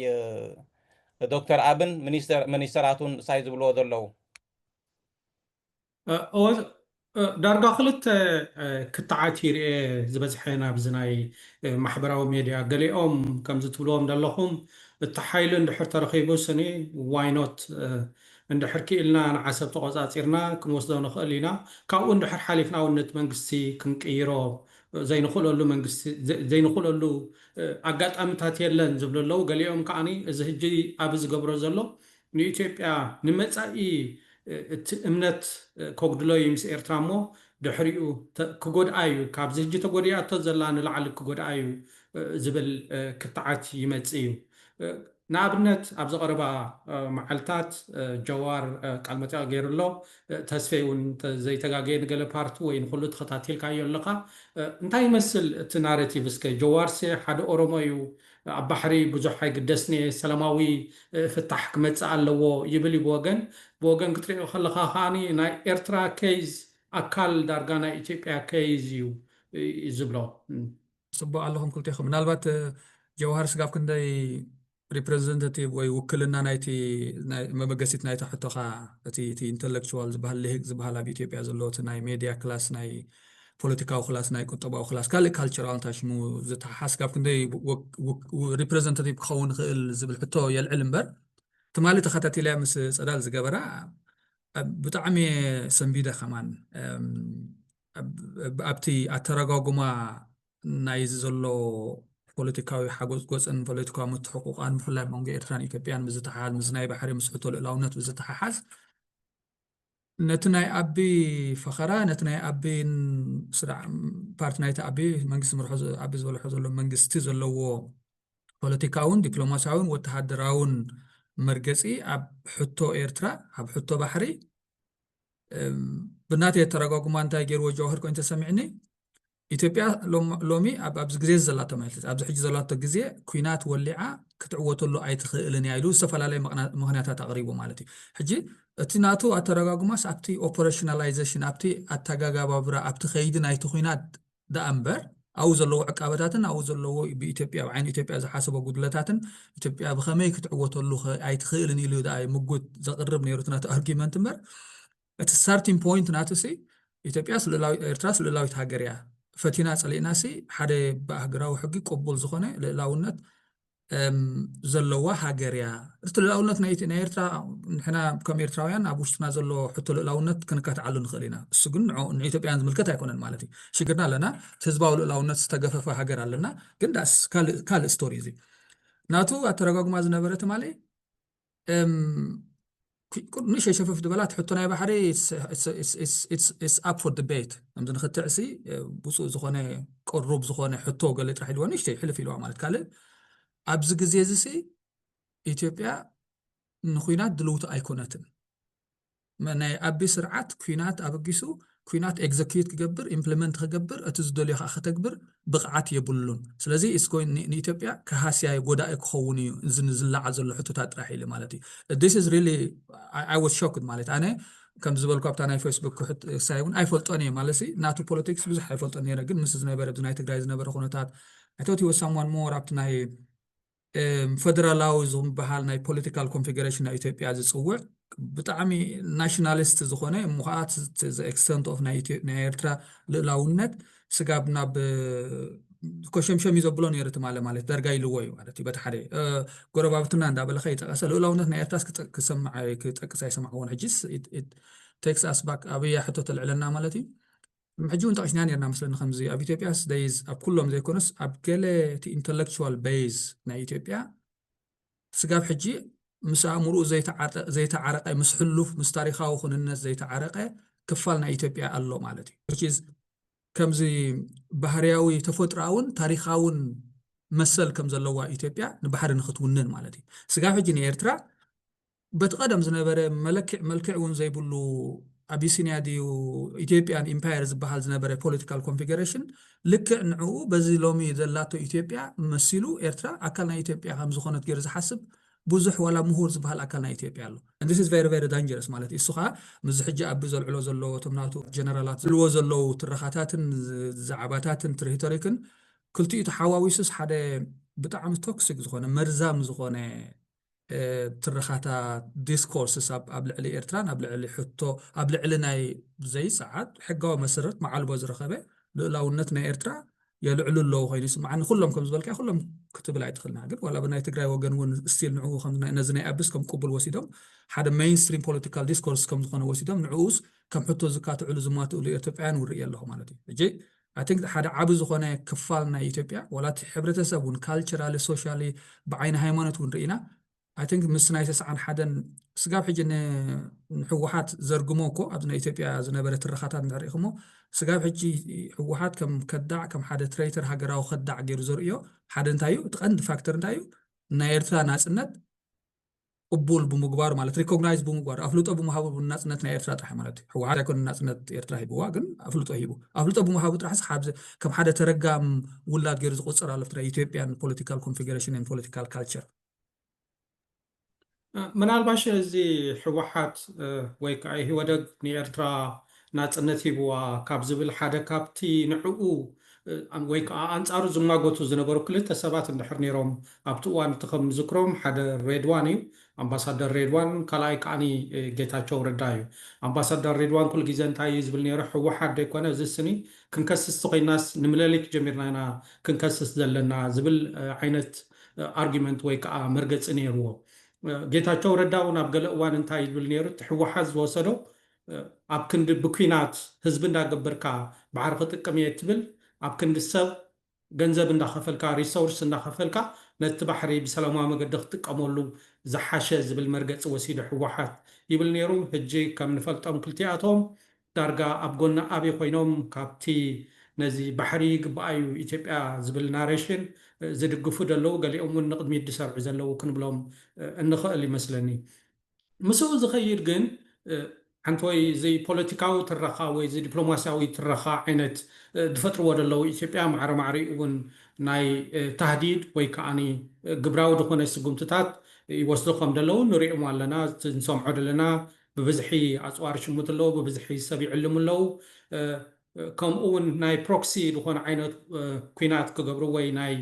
ዶክተር ኣብን ምኒስተራቱን ሳይ ዝብልዎ ዘለዉ? ዳርጋ ክልተ ክትዓት ይርኤ ዝበዝሐን ኣብዚ ናይ ማሕበራዊ ሜድያ ገሊኦም ከምዚ ትብልዎም ደለኹም እቲ ሓይሊ እንድሕር ተረኺቡ ስኒ ዋይ ኖት እንድሕር ኪኢልና ንዓሰብ ተቖጻጺርና ክንወስዶ ንኽእል ኢና ካብኡ እንድሕር ሓሊፍና ውን ነቲ መንግስቲ ክንቅይሮ ዘይንኽእለሉ መንግስቲ ዘይንኽእለሉ ኣጋጣምታት የለን ዝብሉ ኣለው። ገሊኦም ከኣ እዚ ህጂ ኣቢ ዝገብሮ ዘሎ ንኢትዮጵያ ንመጻኢ እቲ እምነት ከጉድሎ እዩ ምስ ኤርትራ እሞ ድሕሪኡ ክጎድኣ እዩ ካብዚ ህጂ ተጎዲኣቶ ዘላ ንላዕሊ ክጎድኣ እዩ ዝብል ክትዓት ይመጽእ እዩ። ንኣብነት ኣብዚ ቀረባ መዓልታት ጀዋር ቃልመጠይቕ ገይሩ ኣሎ፣ ተስፌ እውን እንተዘይተጋግየ ንገለ ፓርት ወይ ንኹሉ ተኸታቲልካዮ ኣለኻ። እንታይ ይመስል እቲ ናረቲቭ እስከ? ጀዋርሲ ሓደ ኦሮሞ እዩ፣ ኣብ ባሕሪ ብዙሕ ኣይግደስን'የ፣ ሰላማዊ ፍታሕ ክመጽእ ኣለዎ ይብል እዩ ብወገን፣ ብወገን ክትርእዮ ከለኻ ከኣ ናይ ኤርትራ ኬዝ ኣካል ዳርጋ ናይ ኢትዮጵያ ኬዝ እዩ ዝብሎ። ጽቡቅ ኣለኹም ክልቴኹም ምናልባት ጀውሃር ስጋብ ክንደይ ሪፕሬዘንታቲቭ ወይ ውክልና ናይቲ መበገሲት ናይቲ ሕቶኻ እቲ እቲ ኢንተሌክቹዋል ዝበሃል ልሂቅ ዝበሃል ኣብ ኢትዮጵያ ዘለዎ እቲ ናይ ሜድያ ክላስ ናይ ፖለቲካዊ ክላስ ናይ ቁጠባዊ ክላስ ካልእ ካልቸራል እንታይ ሽሙ ዝተሓሓስ ካብ ክንደይ ሪፕሬዘንታቲቭ ክኸውን ይኽእል ዝብል ሕቶ የልዕል እምበር ትማሊ ተኸታቲልያ ምስ ፀዳል ዝገበራ ብጣዕሚ ሰንቢደ ከማን ኣብቲ ኣተረጓጉማ ናይዚ ዘሎ ፖለቲካዊ ሓጎፅጎፅን ፖለቲካዊ ምትሕቑቋን ብፍላይ መንጎ ኤርትራን ኢትዮጵያን ብዝተሓሓዝ ምስ ናይ ባሕሪ ምስ ሕቶ ልእላውነት ብዝተሓሓዝ ነቲ ናይ ኣቢ ፈኸራ ነቲ ናይ ኣቢ ፓርቲ ናይቲ ኣቢ መንግስቲ ምርሖ ኣቢ ዝበልሖ ዘሎ መንግስቲ ዘለዎ ፖለቲካውን ዲፕሎማሲያውን ወተሃደራውን መርገፂ ኣብ ሕቶ ኤርትራ ኣብ ሕቶ ባሕሪ ብናተይ ኣተረጓጉማ እንታይ ገይርዎ ጀዋህር ኮይኑ ተሰሚዕኒ ኢትዮጵያ ሎሚ ኣብዚ ግዜ ዘላቶ ማለት ኣብዚ ሕጂ ዘላቶ ግዜ ኩናት ወሊዓ ክትዕወተሉ ኣይትኽእልን እያ ኢሉ ዝተፈላለየ ምክንያታት ኣቕሪቡ ማለት እዩ ሕጂ እቲ ናቱ ኣተረጋጉማስ ኣብቲ ኦፐሬሽናላይዜሽን ኣብቲ ኣተጋጋባብራ ኣብቲ ከይዲ ናይቲ ኩናት ደኣ እምበር ኣብኡ ዘለዎ ዕቃበታትን ኣብኡ ዘለዎ ብኢትዮጵያ ብዓይኒ ኢትዮጵያ ዝሓሰቦ ጉድለታትን ኢትዮጵያ ብኸመይ ክትዕወተሉ ኣይትኽእልን ኢሉ ደኣ ምጉት ዘቕርብ ነይሩ እቲ ናቱ ኣርጊመንት እምበር እቲ ስታርቲንግ ፖይንት ናቱ ሲ ኢትዮጵያ ኤርትራ ልእላዊት ሃገር እያ ፈቲና ፀሊእና ሲ ሓደ ብኣህገራዊ ሕጊ ቅቡል ዝኾነ ልእላውነት ዘለዋ ሃገር እያ እቲ ልእላውነት ናይ ኤርትራ ንሕና ከም ኤርትራውያን ኣብ ውሽጥና ዘሎ ሕቶ ልእላውነት ክንካትዓሉ ንኽእል ኢና እሱ ግን ንኢትዮጵያን ዝምልከት ኣይኮነን ማለት እዩ ሽግርና ኣለና ህዝባዊ ልእላውነት ዝተገፈፈ ሃገር ኣለና ግን ዳስ ካልእ ስቶሪ እዚ ናቱ ኣተረጓጉማ ዝነበረ ትማሊ ንእሽተይ ሸፈፍ ዝበላ ትሕቶ ናይ ባሕሪ ኢትስ ኣፕ ፎር ዲቤት ከምዚ ንክትዕሲ ብፁእ ዝኾነ ቅሩብ ዝኾነ ሕቶ ገለ ጥራሕ ኢልዎ ንእሽተይ ሕልፍ ኢልዋ ማለት ካልእ ኣብዚ ግዜ እዚ ኢትዮጵያ ንኩናት ድልውቲ ኣይኮነትን ናይ ኣቢ ስርዓት ኩናት ኣበጊሱ ኩናት ኤግዘኪዩት ክገብር ኢምፕለመንት ክገብር እቲ ዝደልዮ ከኣ ከተግብር ብቅዓት የብሉን ስለዚ ኢትስ ጎይ ንኢትዮጵያ ከሃስያዩ ጎዳኢ ክኸውን እዩ እዚ ንዝላዓል ዘሎ ሕቶታት ጥራሕ ኢሊ ማለት እዩ ዲስ ኢዝ ሪሊ ኣይ ዋዝ ሾክድ ማለት ኣነ ከም ዝበልኩ ኣብታ ናይ ፌስቡክ ክሕት ሳይ እውን ኣይፈልጦን እየ ማለሲ ናቱ ፖለቲክስ ብዙሕ ኣይፈልጦን ነይረ ግን ምስ ዝነበረ ብዚ ናይ ትግራይ ዝነበረ ኩነታት ኣይ ቶት ሂ ዋዝ ሳምዋን ሞር ኣብቲ ናይ ፈደራላዊ ዝበሃል ናይ ፖለቲካል ኮንፌዴሬሽን ናይ ኢትዮጵያ ዝፅውዕ ብጣዕሚ ናሽናሊስት ዝኾነ እሞ ከዓ ኤክስተንት ኦፍ ናይ ኤርትራ ልእላውነት ስጋብ ናብ ኮሸምሸም እዩ ዘብሎ ነይሩ ትማለ ማለት ደርጋ ኢልዎ እዩ ማለት እዩ በቲ ሓደ ጎረባብትና እንዳበለካ ይጠቀሰ ልእላውነት ናይ ኤርትራስ ክሰምዕ ክጠቅስ ኣይሰማዕዎን ሕጂስ ቴክስ ኣስባክ ኣብያ ሕቶ ተልዕለና ማለት እዩ ሕጂ ውን ጠቂስናዮ ኔርና መስለኒ ከምዚ ኣብ ኢትዮጵያስ ደይዝ ኣብ ኩሎም ዘይኮነስ ኣብ ገለ እቲ ኢንተለክቹዋል በይዝ ናይ ኢትዮጵያ ስጋብ ሕጂ ምስ ኣእምርኡ ዘይተዓረቀ ምስ ሕሉፍ ምስ ታሪካዊ ኩንነት ዘይተዓረቀ ክፋል ናይ ኢትዮጵያ ኣሎ ማለት እዩ ከምዚ ባህርያዊ ተፈጥሮኣውን ታሪካውን መሰል ከም ዘለዋ ኢትዮጵያ ንባሕሪ ንክትውንን ማለት እዩ ስጋብ ሕጂ ንኤርትራ በቲ ቀደም ዝነበረ መለክዕ መልክዕ እውን ዘይብሉ ኣቢሲንያ ድዩ ኢትዮጵያን ኢምፓየር ዝበሃል ዝነበረ ፖለቲካል ኮንፊገረሽን ልክዕ ንዕኡ በዚ ሎሚ ዘላቶ ኢትዮጵያ መሲሉ ኤርትራ ኣካል ናይ ኢትዮጵያ ከም ዝኾነት ገይሩ ዝሓስብ ብዙሕ ዋላ ምሁር ዝበሃል ኣካል ናይ ኢትዮጵያ ኣሎ and this is very very dangerous ማለት እዩ እሱ ከዓ ምስዚ ሕጂ ኣቢ ዘልዕሎ ዘሎ እቶም ናቱ ጀነራላት ዝብልዎ ዘለዉ ትረኻታትን ዛዕባታትን ትሪቶሪክን ክልቲኡ ተሓዋዊሱስ ሓደ ብጣዕሚ ቶክሲክ ዝኾነ መርዛም ዝኾነ ትረኻታ ዲስኮርስስ ኣብ ልዕሊ ኤርትራን ኣብ ልዕሊ ሕቶ ኣብ ልዕሊ ናይ ዘይሰዓት ሕጋዊ መሰረት መዓልቦ ዝረኸበ ልእላውነት ናይ ኤርትራ የልዕሉ ኣለዉ ኮይኑ ይስምዓኒ ኩሎም ከም ዝበልካ ኩሎም ክትብል ኣይትኽእልና ግን ዋላ ብናይ ትግራይ ወገን እውን ስቲል ንዕኡ ነዚ ናይ ኣብስ ከም ቅቡል ወሲዶም ሓደ ሜይንስትሪም ፖለቲካል ዲስኮርስ ከም ዝኾነ ወሲዶም ንዕኡስ ከም ሕቶ ዝካትዕሉ ዝማትእሉ ኤርትጵውያን ውርኢ ኣለኹ ማለት እዩ ሕጂ ኣይ ቲንክ ሓደ ዓቢ ዝኾነ ክፋል ናይ ኢትዮጵያ ዋላ እቲ ሕብረተሰብ እውን ካልቸራሊ ሶሻሊ ብዓይኒ ሃይማኖት እውን ርኢና ኣይ ቲንክ ምስ ናይ ተስዓን ሓደን ስጋብ ሕጂ ንሕወሓት ዘርግሞ እኮ ኣብዚ ናይ ኢትዮጵያ ዝነበረ ትረኻታት እንድሕር ርኢኹሞ ስጋብ ሕጂ ሕወሓት ከም ከዳዕ ከም ሓደ ትሬተር ሃገራዊ ከዳዕ ገይሩ ዘርእዮ ሓደ እንታይ እዩ እቲ ቀንዲ ፋክተር እንታይ እዩ ናይ ኤርትራ ናጽነት ቅቡል ብምግባሩ ማለት ሪኮግናይዝ ብምግባሩ ኣፍልጦ ብምሃቡ ናፅነት ናይ ኤርትራ ጥራሕ ማለት እዩ ህወሓት ኣይኮነ ናፅነት ኤርትራ ሂብዋ ግን ኣፍልጦ ሂቡ ኣፍልጦ ብምሃቡ ጥራሕስ ከም ሓደ ተረጋም ውላድ ገይሩ ዝቆፅር ኣሎ ፍትራ ኢትዮጵያን ፖለቲካል ኮንፊግሬሽንን ፖለቲካል ካልቸር ምናልባሽ እዚ ህወሓት ወይ ከዓ ኢህወደግ ንኤርትራ ናጽነት ሂብዋ ካብ ዝብል ሓደ ካብቲ ንዕኡ ወይ ከኣ ኣንጻሩ ዝማጎቱ ዝነበሩ ክልተ ሰባት እንድሕር ነይሮም ኣብቲ እዋን እቲ ከም ዝክሮም ሓደ ሬድዋን እዩ ኣምባሳደር ሬድዋን ካልኣይ ከኣኒ ጌታቸው ረዳ እዩ ኣምባሳደር ሬድዋን ኩሉ ግዜ እንታይ እዩ ዝብል ነይሩ ሕወሓት ደይኮነ እዚ ስኒ ክንከስስ ተኮይናስ ንምለሊት ጀሚርና ኢና ክንከስስ ዘለና ዝብል ዓይነት ኣርጊመንት ወይ ከኣ መርገጺ ነይርዎ ጌታቸው ረዳ እውን ኣብ ገለ እዋን እንታይ ይብል ነይሩ እቲ ሕወሓት ዝወሰዶ ኣብ ክንዲ ብኲናት ህዝቢ እንዳገብርካ ባሕሪ ክጥቅም እየ እትብል ኣብ ክንዲ ሰብ ገንዘብ እንዳኸፈልካ ሪሶርስ እንዳኸፈልካ ነቲ ባሕሪ ብሰላማዊ መገዲ ክትጥቀመሉ ዝሓሸ ዝብል መርገፂ ወሲዱ ህወሓት ይብል ነይሩ ህጂ ከም ንፈልጦም ክልቲኣቶም ዳርጋ ኣብ ጎኒ ኣብይ ኮይኖም ካብቲ ነዚ ባሕሪ ይግበኣ እዩ ኢትዮጵያ ዝብል ናሬሽን ዝድግፉ ደለዉ ገሊኦም እውን ንቕድሚት ድሰርዑ ዘለዉ ክንብሎም እንኽእል ይመስለኒ። ምስኡ ዝኸይድ ግን ሓንቲ ወይ እዚ ፖለቲካዊ ትረኻ ወይ እዚ ዲፕሎማሲያዊ ትረኻ ዓይነት ዝፈጥርዎ ዘለዉ ኢትዮጵያ ማዕረ ማዕሪኡ እውን ናይ ታህዲድ ወይ ከኣ ግብራዊ ዝኾነ ስጉምትታት ይወስዱ ከም ዘለዉ ንሪኦም ኣለና እቲ ንሰምዖ ዘለና ብብዝሒ ኣጽዋር ይሽምቱ ኣለዉ ብብዝሒ ሰብ ይዕልሙ ኣለዉ ከምኡ እውን ናይ ፕሮክሲ ዝኾነ ዓይነት ኲናት ክገብሩ ወይ ናይ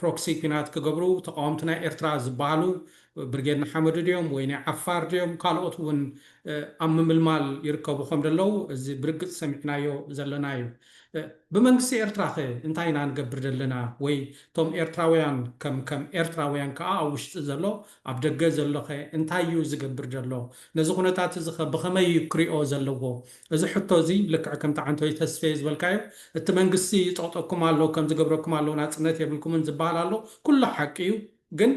ፕሮክሲ ኩናት ክገብሩ ተቃወምቲ ናይ ኤርትራ ዝባሃሉ ብርጌድ ንሓመዱ ድዮም ወይ ናይ ዓፋር ድዮም ካልኦት ውን ኣብ ምምልማል ይርከቡ ከም ደለዉ እዚ ብርግጽ ሰሚዕናዮ ዘለና እዩ ብመንግስቲ ኤርትራ ከ እንታይ ኢና ንገብር ደለና ወይ ቶም ኤርትራውያን ከም ከም ኤርትራውያን ከኣ ኣብ ውሽጢ ዘሎ ኣብ ደገ ዘሎ ከ እንታይ እዩ ዝገብር ደሎ ነዚ ኩነታት እዚ ከ ብከመይ እዩ ክሪኦ ዘለዎ እዚ ሕቶ እዚ ልክዕ ከምቲ ዓንተወይ ተስፌ ዝበልካዮ እቲ መንግስቲ ይጦቕጠኩም ኣሎ ከምዚ ገብረኩም ኣሎ ናጽነት የብልኩምን ዝብሃል ኣሎ ኩሉ ሓቂ እዩ ግን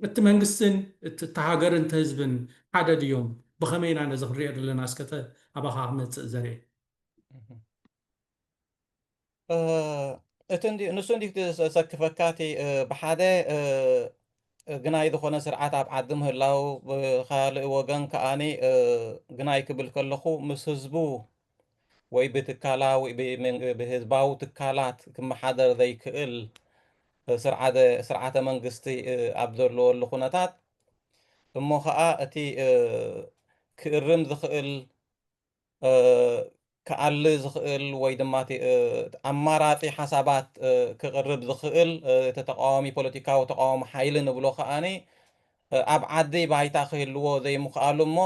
እቲ መንግስትን እቲ እታ ሃገርን እቲ ህዝብን ሓደ ድዮም ብኸመይ ኢና ነዚ ክንሪኦ ደለና እስከ ኣባኻ ክመጽእ ዘርኤ። እቲ ንሱ እንዲ ዘሰክፈካ እቲ ብሓደ ግናይ ዝኾነ ስርዓት ኣብ ዓዲ ምህላው ብካልእ ወገን ከዓ ግናይ ክብል ከለኹ ምስ ህዝቡ ወይ ብትካላዊ ብህዝባዊ ትካላት ክመሓደር ዘይክእል ስርዓተ መንግስቲ ኣብ ዘለወሉ ኩነታት እሞ ከዓ እቲ ክእርም ዝኽእል ክኣሊ ዝኽእል ወይ ድማ እቲ ኣማራጺ ሓሳባት ክቕርብ ዝኽእል እቲ ተቓዋሚ ፖለቲካዊ ተቓዋሚ ሓይሊ ንብሎ ከኣ ኣብ ዓዲ ባይታ ክህልዎ ዘይምኽኣሉ እሞ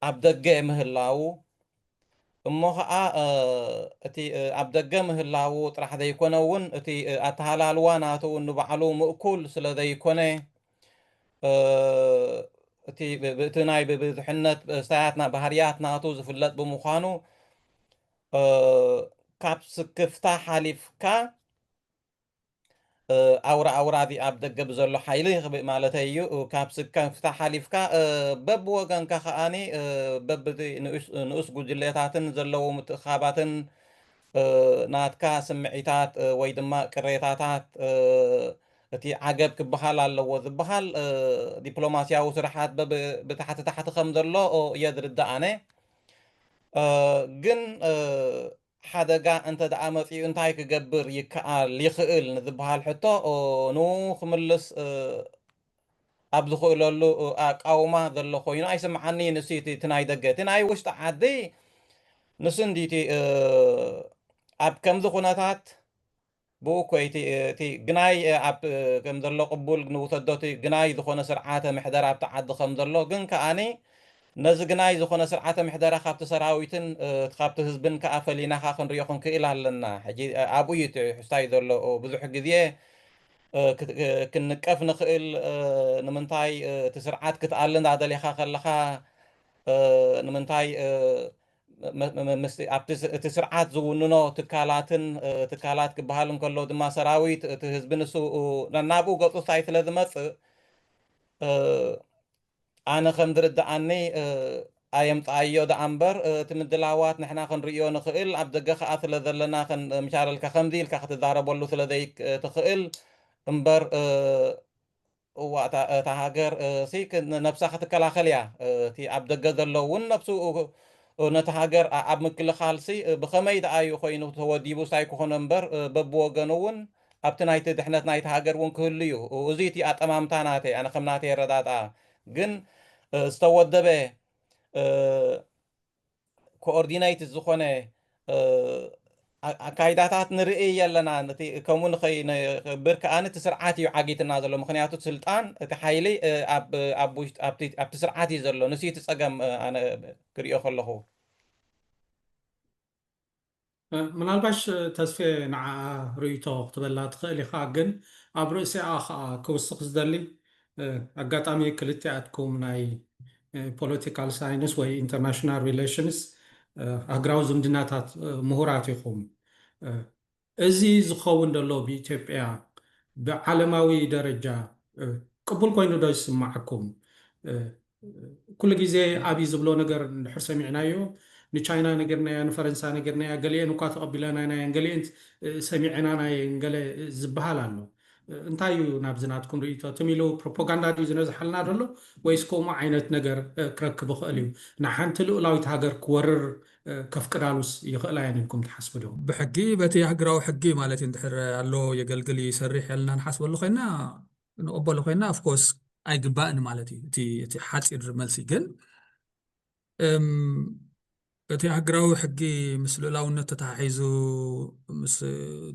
ኣብ ደገ ምህላዉ እሞ ኸኣ እቲ ኣብ ደገ ምህላዉ ጥራሕ ዘይኮነ እውን እቲ ኣተሃላልዋ ናቱ ንባዕሉ ምእኩል ስለ ዘይኮነ እቲ ብእቲ ናይ ብብዙሕነት ብእስታያትና ባህርያት ናቱ ዝፍለጥ ብምዃኑ ካብ ስክፍታ ሓሊፍካ ኣውራ ኣውራ እዚ ኣብ ደገ ብዘሎ ሓይሊ ክብእ ማለተይ እዩ ካብ ስከፍታ ሓሊፍካ በብ ወገንካ ከዓኒ በብ ንኡስ ጉጅሌታትን ዘለዉ ምትእኻባትን ናትካ ስምዒታት ወይ ድማ ቅሬታታት እቲ ዓገብ ክበሃል ኣለዎ ዝበሃል ዲፕሎማሲያዊ ስርሓት ብታሕቲ ታሕቲ ከም ዘሎ እየ ዝርዳእ ኣነ ግን ሓደጋ እንተ ደኣ መጺኡ እንታይ ክገብር ይከኣል ይኽእል ንዝበሃል ሕቶ ንኡ ክምልስ ኣብ ዝኽእለሉ ኣቃውማ ዘሎ ኮይኑ ኣይስምዓኒ ንሱ እቲ ናይ ደገ እቲ ናይ ውሽጢ ዓዲ ንሱ እንዲ እቲ ኣብ ከምዚ ኩነታት ብኡ እኮ እዩ እቲ ግናይ ኣብ ከም ዘሎ ቅቡል ንውሰዶ እቲ ግናይ ዝኾነ ስርዓተ ምሕደራ ኣብቲ ዓዲ ከም ዘሎ ግን ከኣ ነዚ ግናይ ዝኾነ ስርዓተ ምሕደራ ካብቲ ሰራዊትን ካብቲ ህዝብን ከኣ ፈሊና ከኣ ክንሪኦ ክንክእል ኣለና ሕጂ ኣብኡ እዩ እቲ ሕስታይ ዘሎ ብዙሕ ግዜ ክንቀፍ ንክእል ንምንታይ እቲ ስርዓት ክትኣሊ እንዳደሌኻ ከለኻ ንምንታይ ምስ እቲ ስርዓት ዝውንኖ ትካላትን ትካላት ክበሃል እንከሎ ድማ ሰራዊት እቲ ህዝቢ ንሱ ነናብኡ ገፁ ሳይ ስለ ዝመፅእ ኣነ ከም ዝርድኣኒ ኣየምፅኣዮ ደኣ እምበር እቲ ምድላዋት ንሕና ክንርእዮ ንኽእል ኣብ ደገ ከዓ ስለ ዘለና ምሻለልካ ከምዚ ኢልካ ክትዛረበሉ ስለ ዘይትኽእል እምበር እዋ እታ እታ ሃገር ሲ ነብሳ ክትከላኸል እያ እቲ ኣብ ደገ ዘሎ ውን ነብሱ ነቲ ሃገር ኣብ ምክልኻል ሲ ብኸመይ ደኣ እዩ ኮይኑ ተወዲቡ ሳይ ክኾኖ እምበር በብወገኑ ውን ኣብቲ ናይቲ ድሕነት ናይቲ ሃገር ውን ክህሉ እዩ እዙይ እቲ ኣጠማምታ ናተይ ኣነ ከም ናተይ ኣረዳድኣ ግን ዝተወደበ ኮኦርዲነይት ዝኾነ ኣካይዳታት ንርኢ ኣለና እቲ ከምኡ ንኸይንብር ከዓ እቲ ስርዓት እዩ ዓጊትና ዘሎ ምክንያቱ ስልጣን እቲ ሓይሊ ኣብቲ ስርዓት እዩ ዘሎ ንሱ እቲ ፀገም ኣነ ክሪኦ ከለኹ ምናልባሽ ተስፌ ንዓኣ ርእይቶ ክትበላ ትኽእል ኢኻ ግን ኣብ ርእሲኣ ኸኣ ክውስኽ ዝደሊ ኣጋጣሚ ክልቲኣትኩም ናይ ፖለቲካል ሳይንስ ወይ ኢንተርናሽናል ሪለሽንስ ኣህግራዊ ዝምድናታት ምሁራት ኢኹም እዚ ዝኸውን ደሎ ብኢትዮጵያ ብዓለማዊ ደረጃ ቅቡል ኮይኑ ዶ ይስማዓኩም ኩሉ ግዜ ኣብይ ዝብሎ ነገር እንድሕር ሰሚዕናዮ ንቻይና ነጊርናያ ንፈረንሳ ነጊርናያ ገሊኤን እኳ ተቐቢለናን ኣየን ገሊኤን ሰሚዔናን ኣየን ገለ ዝብሃል ኣሎ እንታይ እዩ ናብዚ ናትኩም ርእይቶ ትም ኢሉ ፕሮፖጋንዳ ድዩ ዝነዝሓልና ዘሎ ወይስ ከምኡ ዓይነት ነገር ክረክብ ይኽእል እዩ ንሓንቲ ልኡላዊት ሃገር ክወርር ከፍቅዳሉስ ይኽእላ እየን ኢልኩም ትሓስቡ ዶ ብሕጊ በቲ ሃገራዊ ሕጊ ማለት እዩ እንድሕር ኣሎ የገልግል እዩ ይሰርሕ እልና ንሓስበሉ ኮይና ክንቕበሎ ኮይና of course ኣይግባእን ማለት እዩ እቲ እቲ ሓጺር መልሲ ግን እም እቲ ሃገራዊ ሕጊ ምስ ልኡላውነት ተተሓሒዙ ምስ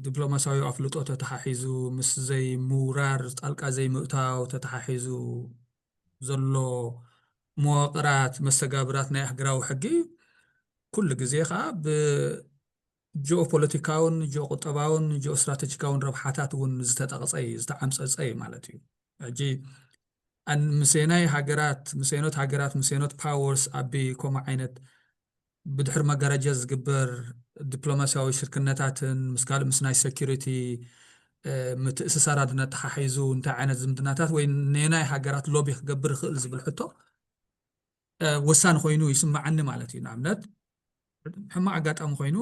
ዲፕሎማስያዊ ኣፍልጦ ተተሓሒዙ ምስ ዘይምውራር ጣልቃ ዘይምእታው ተተሓሒዙ ዘሎ መዋቕራት መስተጋብራት ናይ ሃገራዊ ሕጊ ኩሉ ግዜ ከዓ ብ ጂኦፖለቲካውን ጂኦቁጠባውን ጂኦስትራተጂካውን ረብሓታት እውን ዝተጠቕፀ እዩ፣ ዝተዓምፀፀ እዩ ማለት እዩ። ሕጂ ኣን- ምስየናይ ሃገራት ምስየኖት ሃገራት ምስየኖት ፓወርስ ኣቢ ከምኡ ዓይነት ብድሕሪ መጋረጃ ዝግበር ዲፕሎማስያዊ ሽርክነታትን ምስ ካልእ ምስ ናይ ሴኪሪቲ ምትእስሳራትን ኣተሓሒዙ እንታይ ዓይነት ዝምድናታት ወይ ነናይ ሃገራት ሎቢ ክገብር ይኽእል ዝብል ሕቶ ወሳኒ ኮይኑ ይስመዓኒ ማለት እዩ። ንኣብነት ሕማቕ ኣጋጣሚ ኮይኑ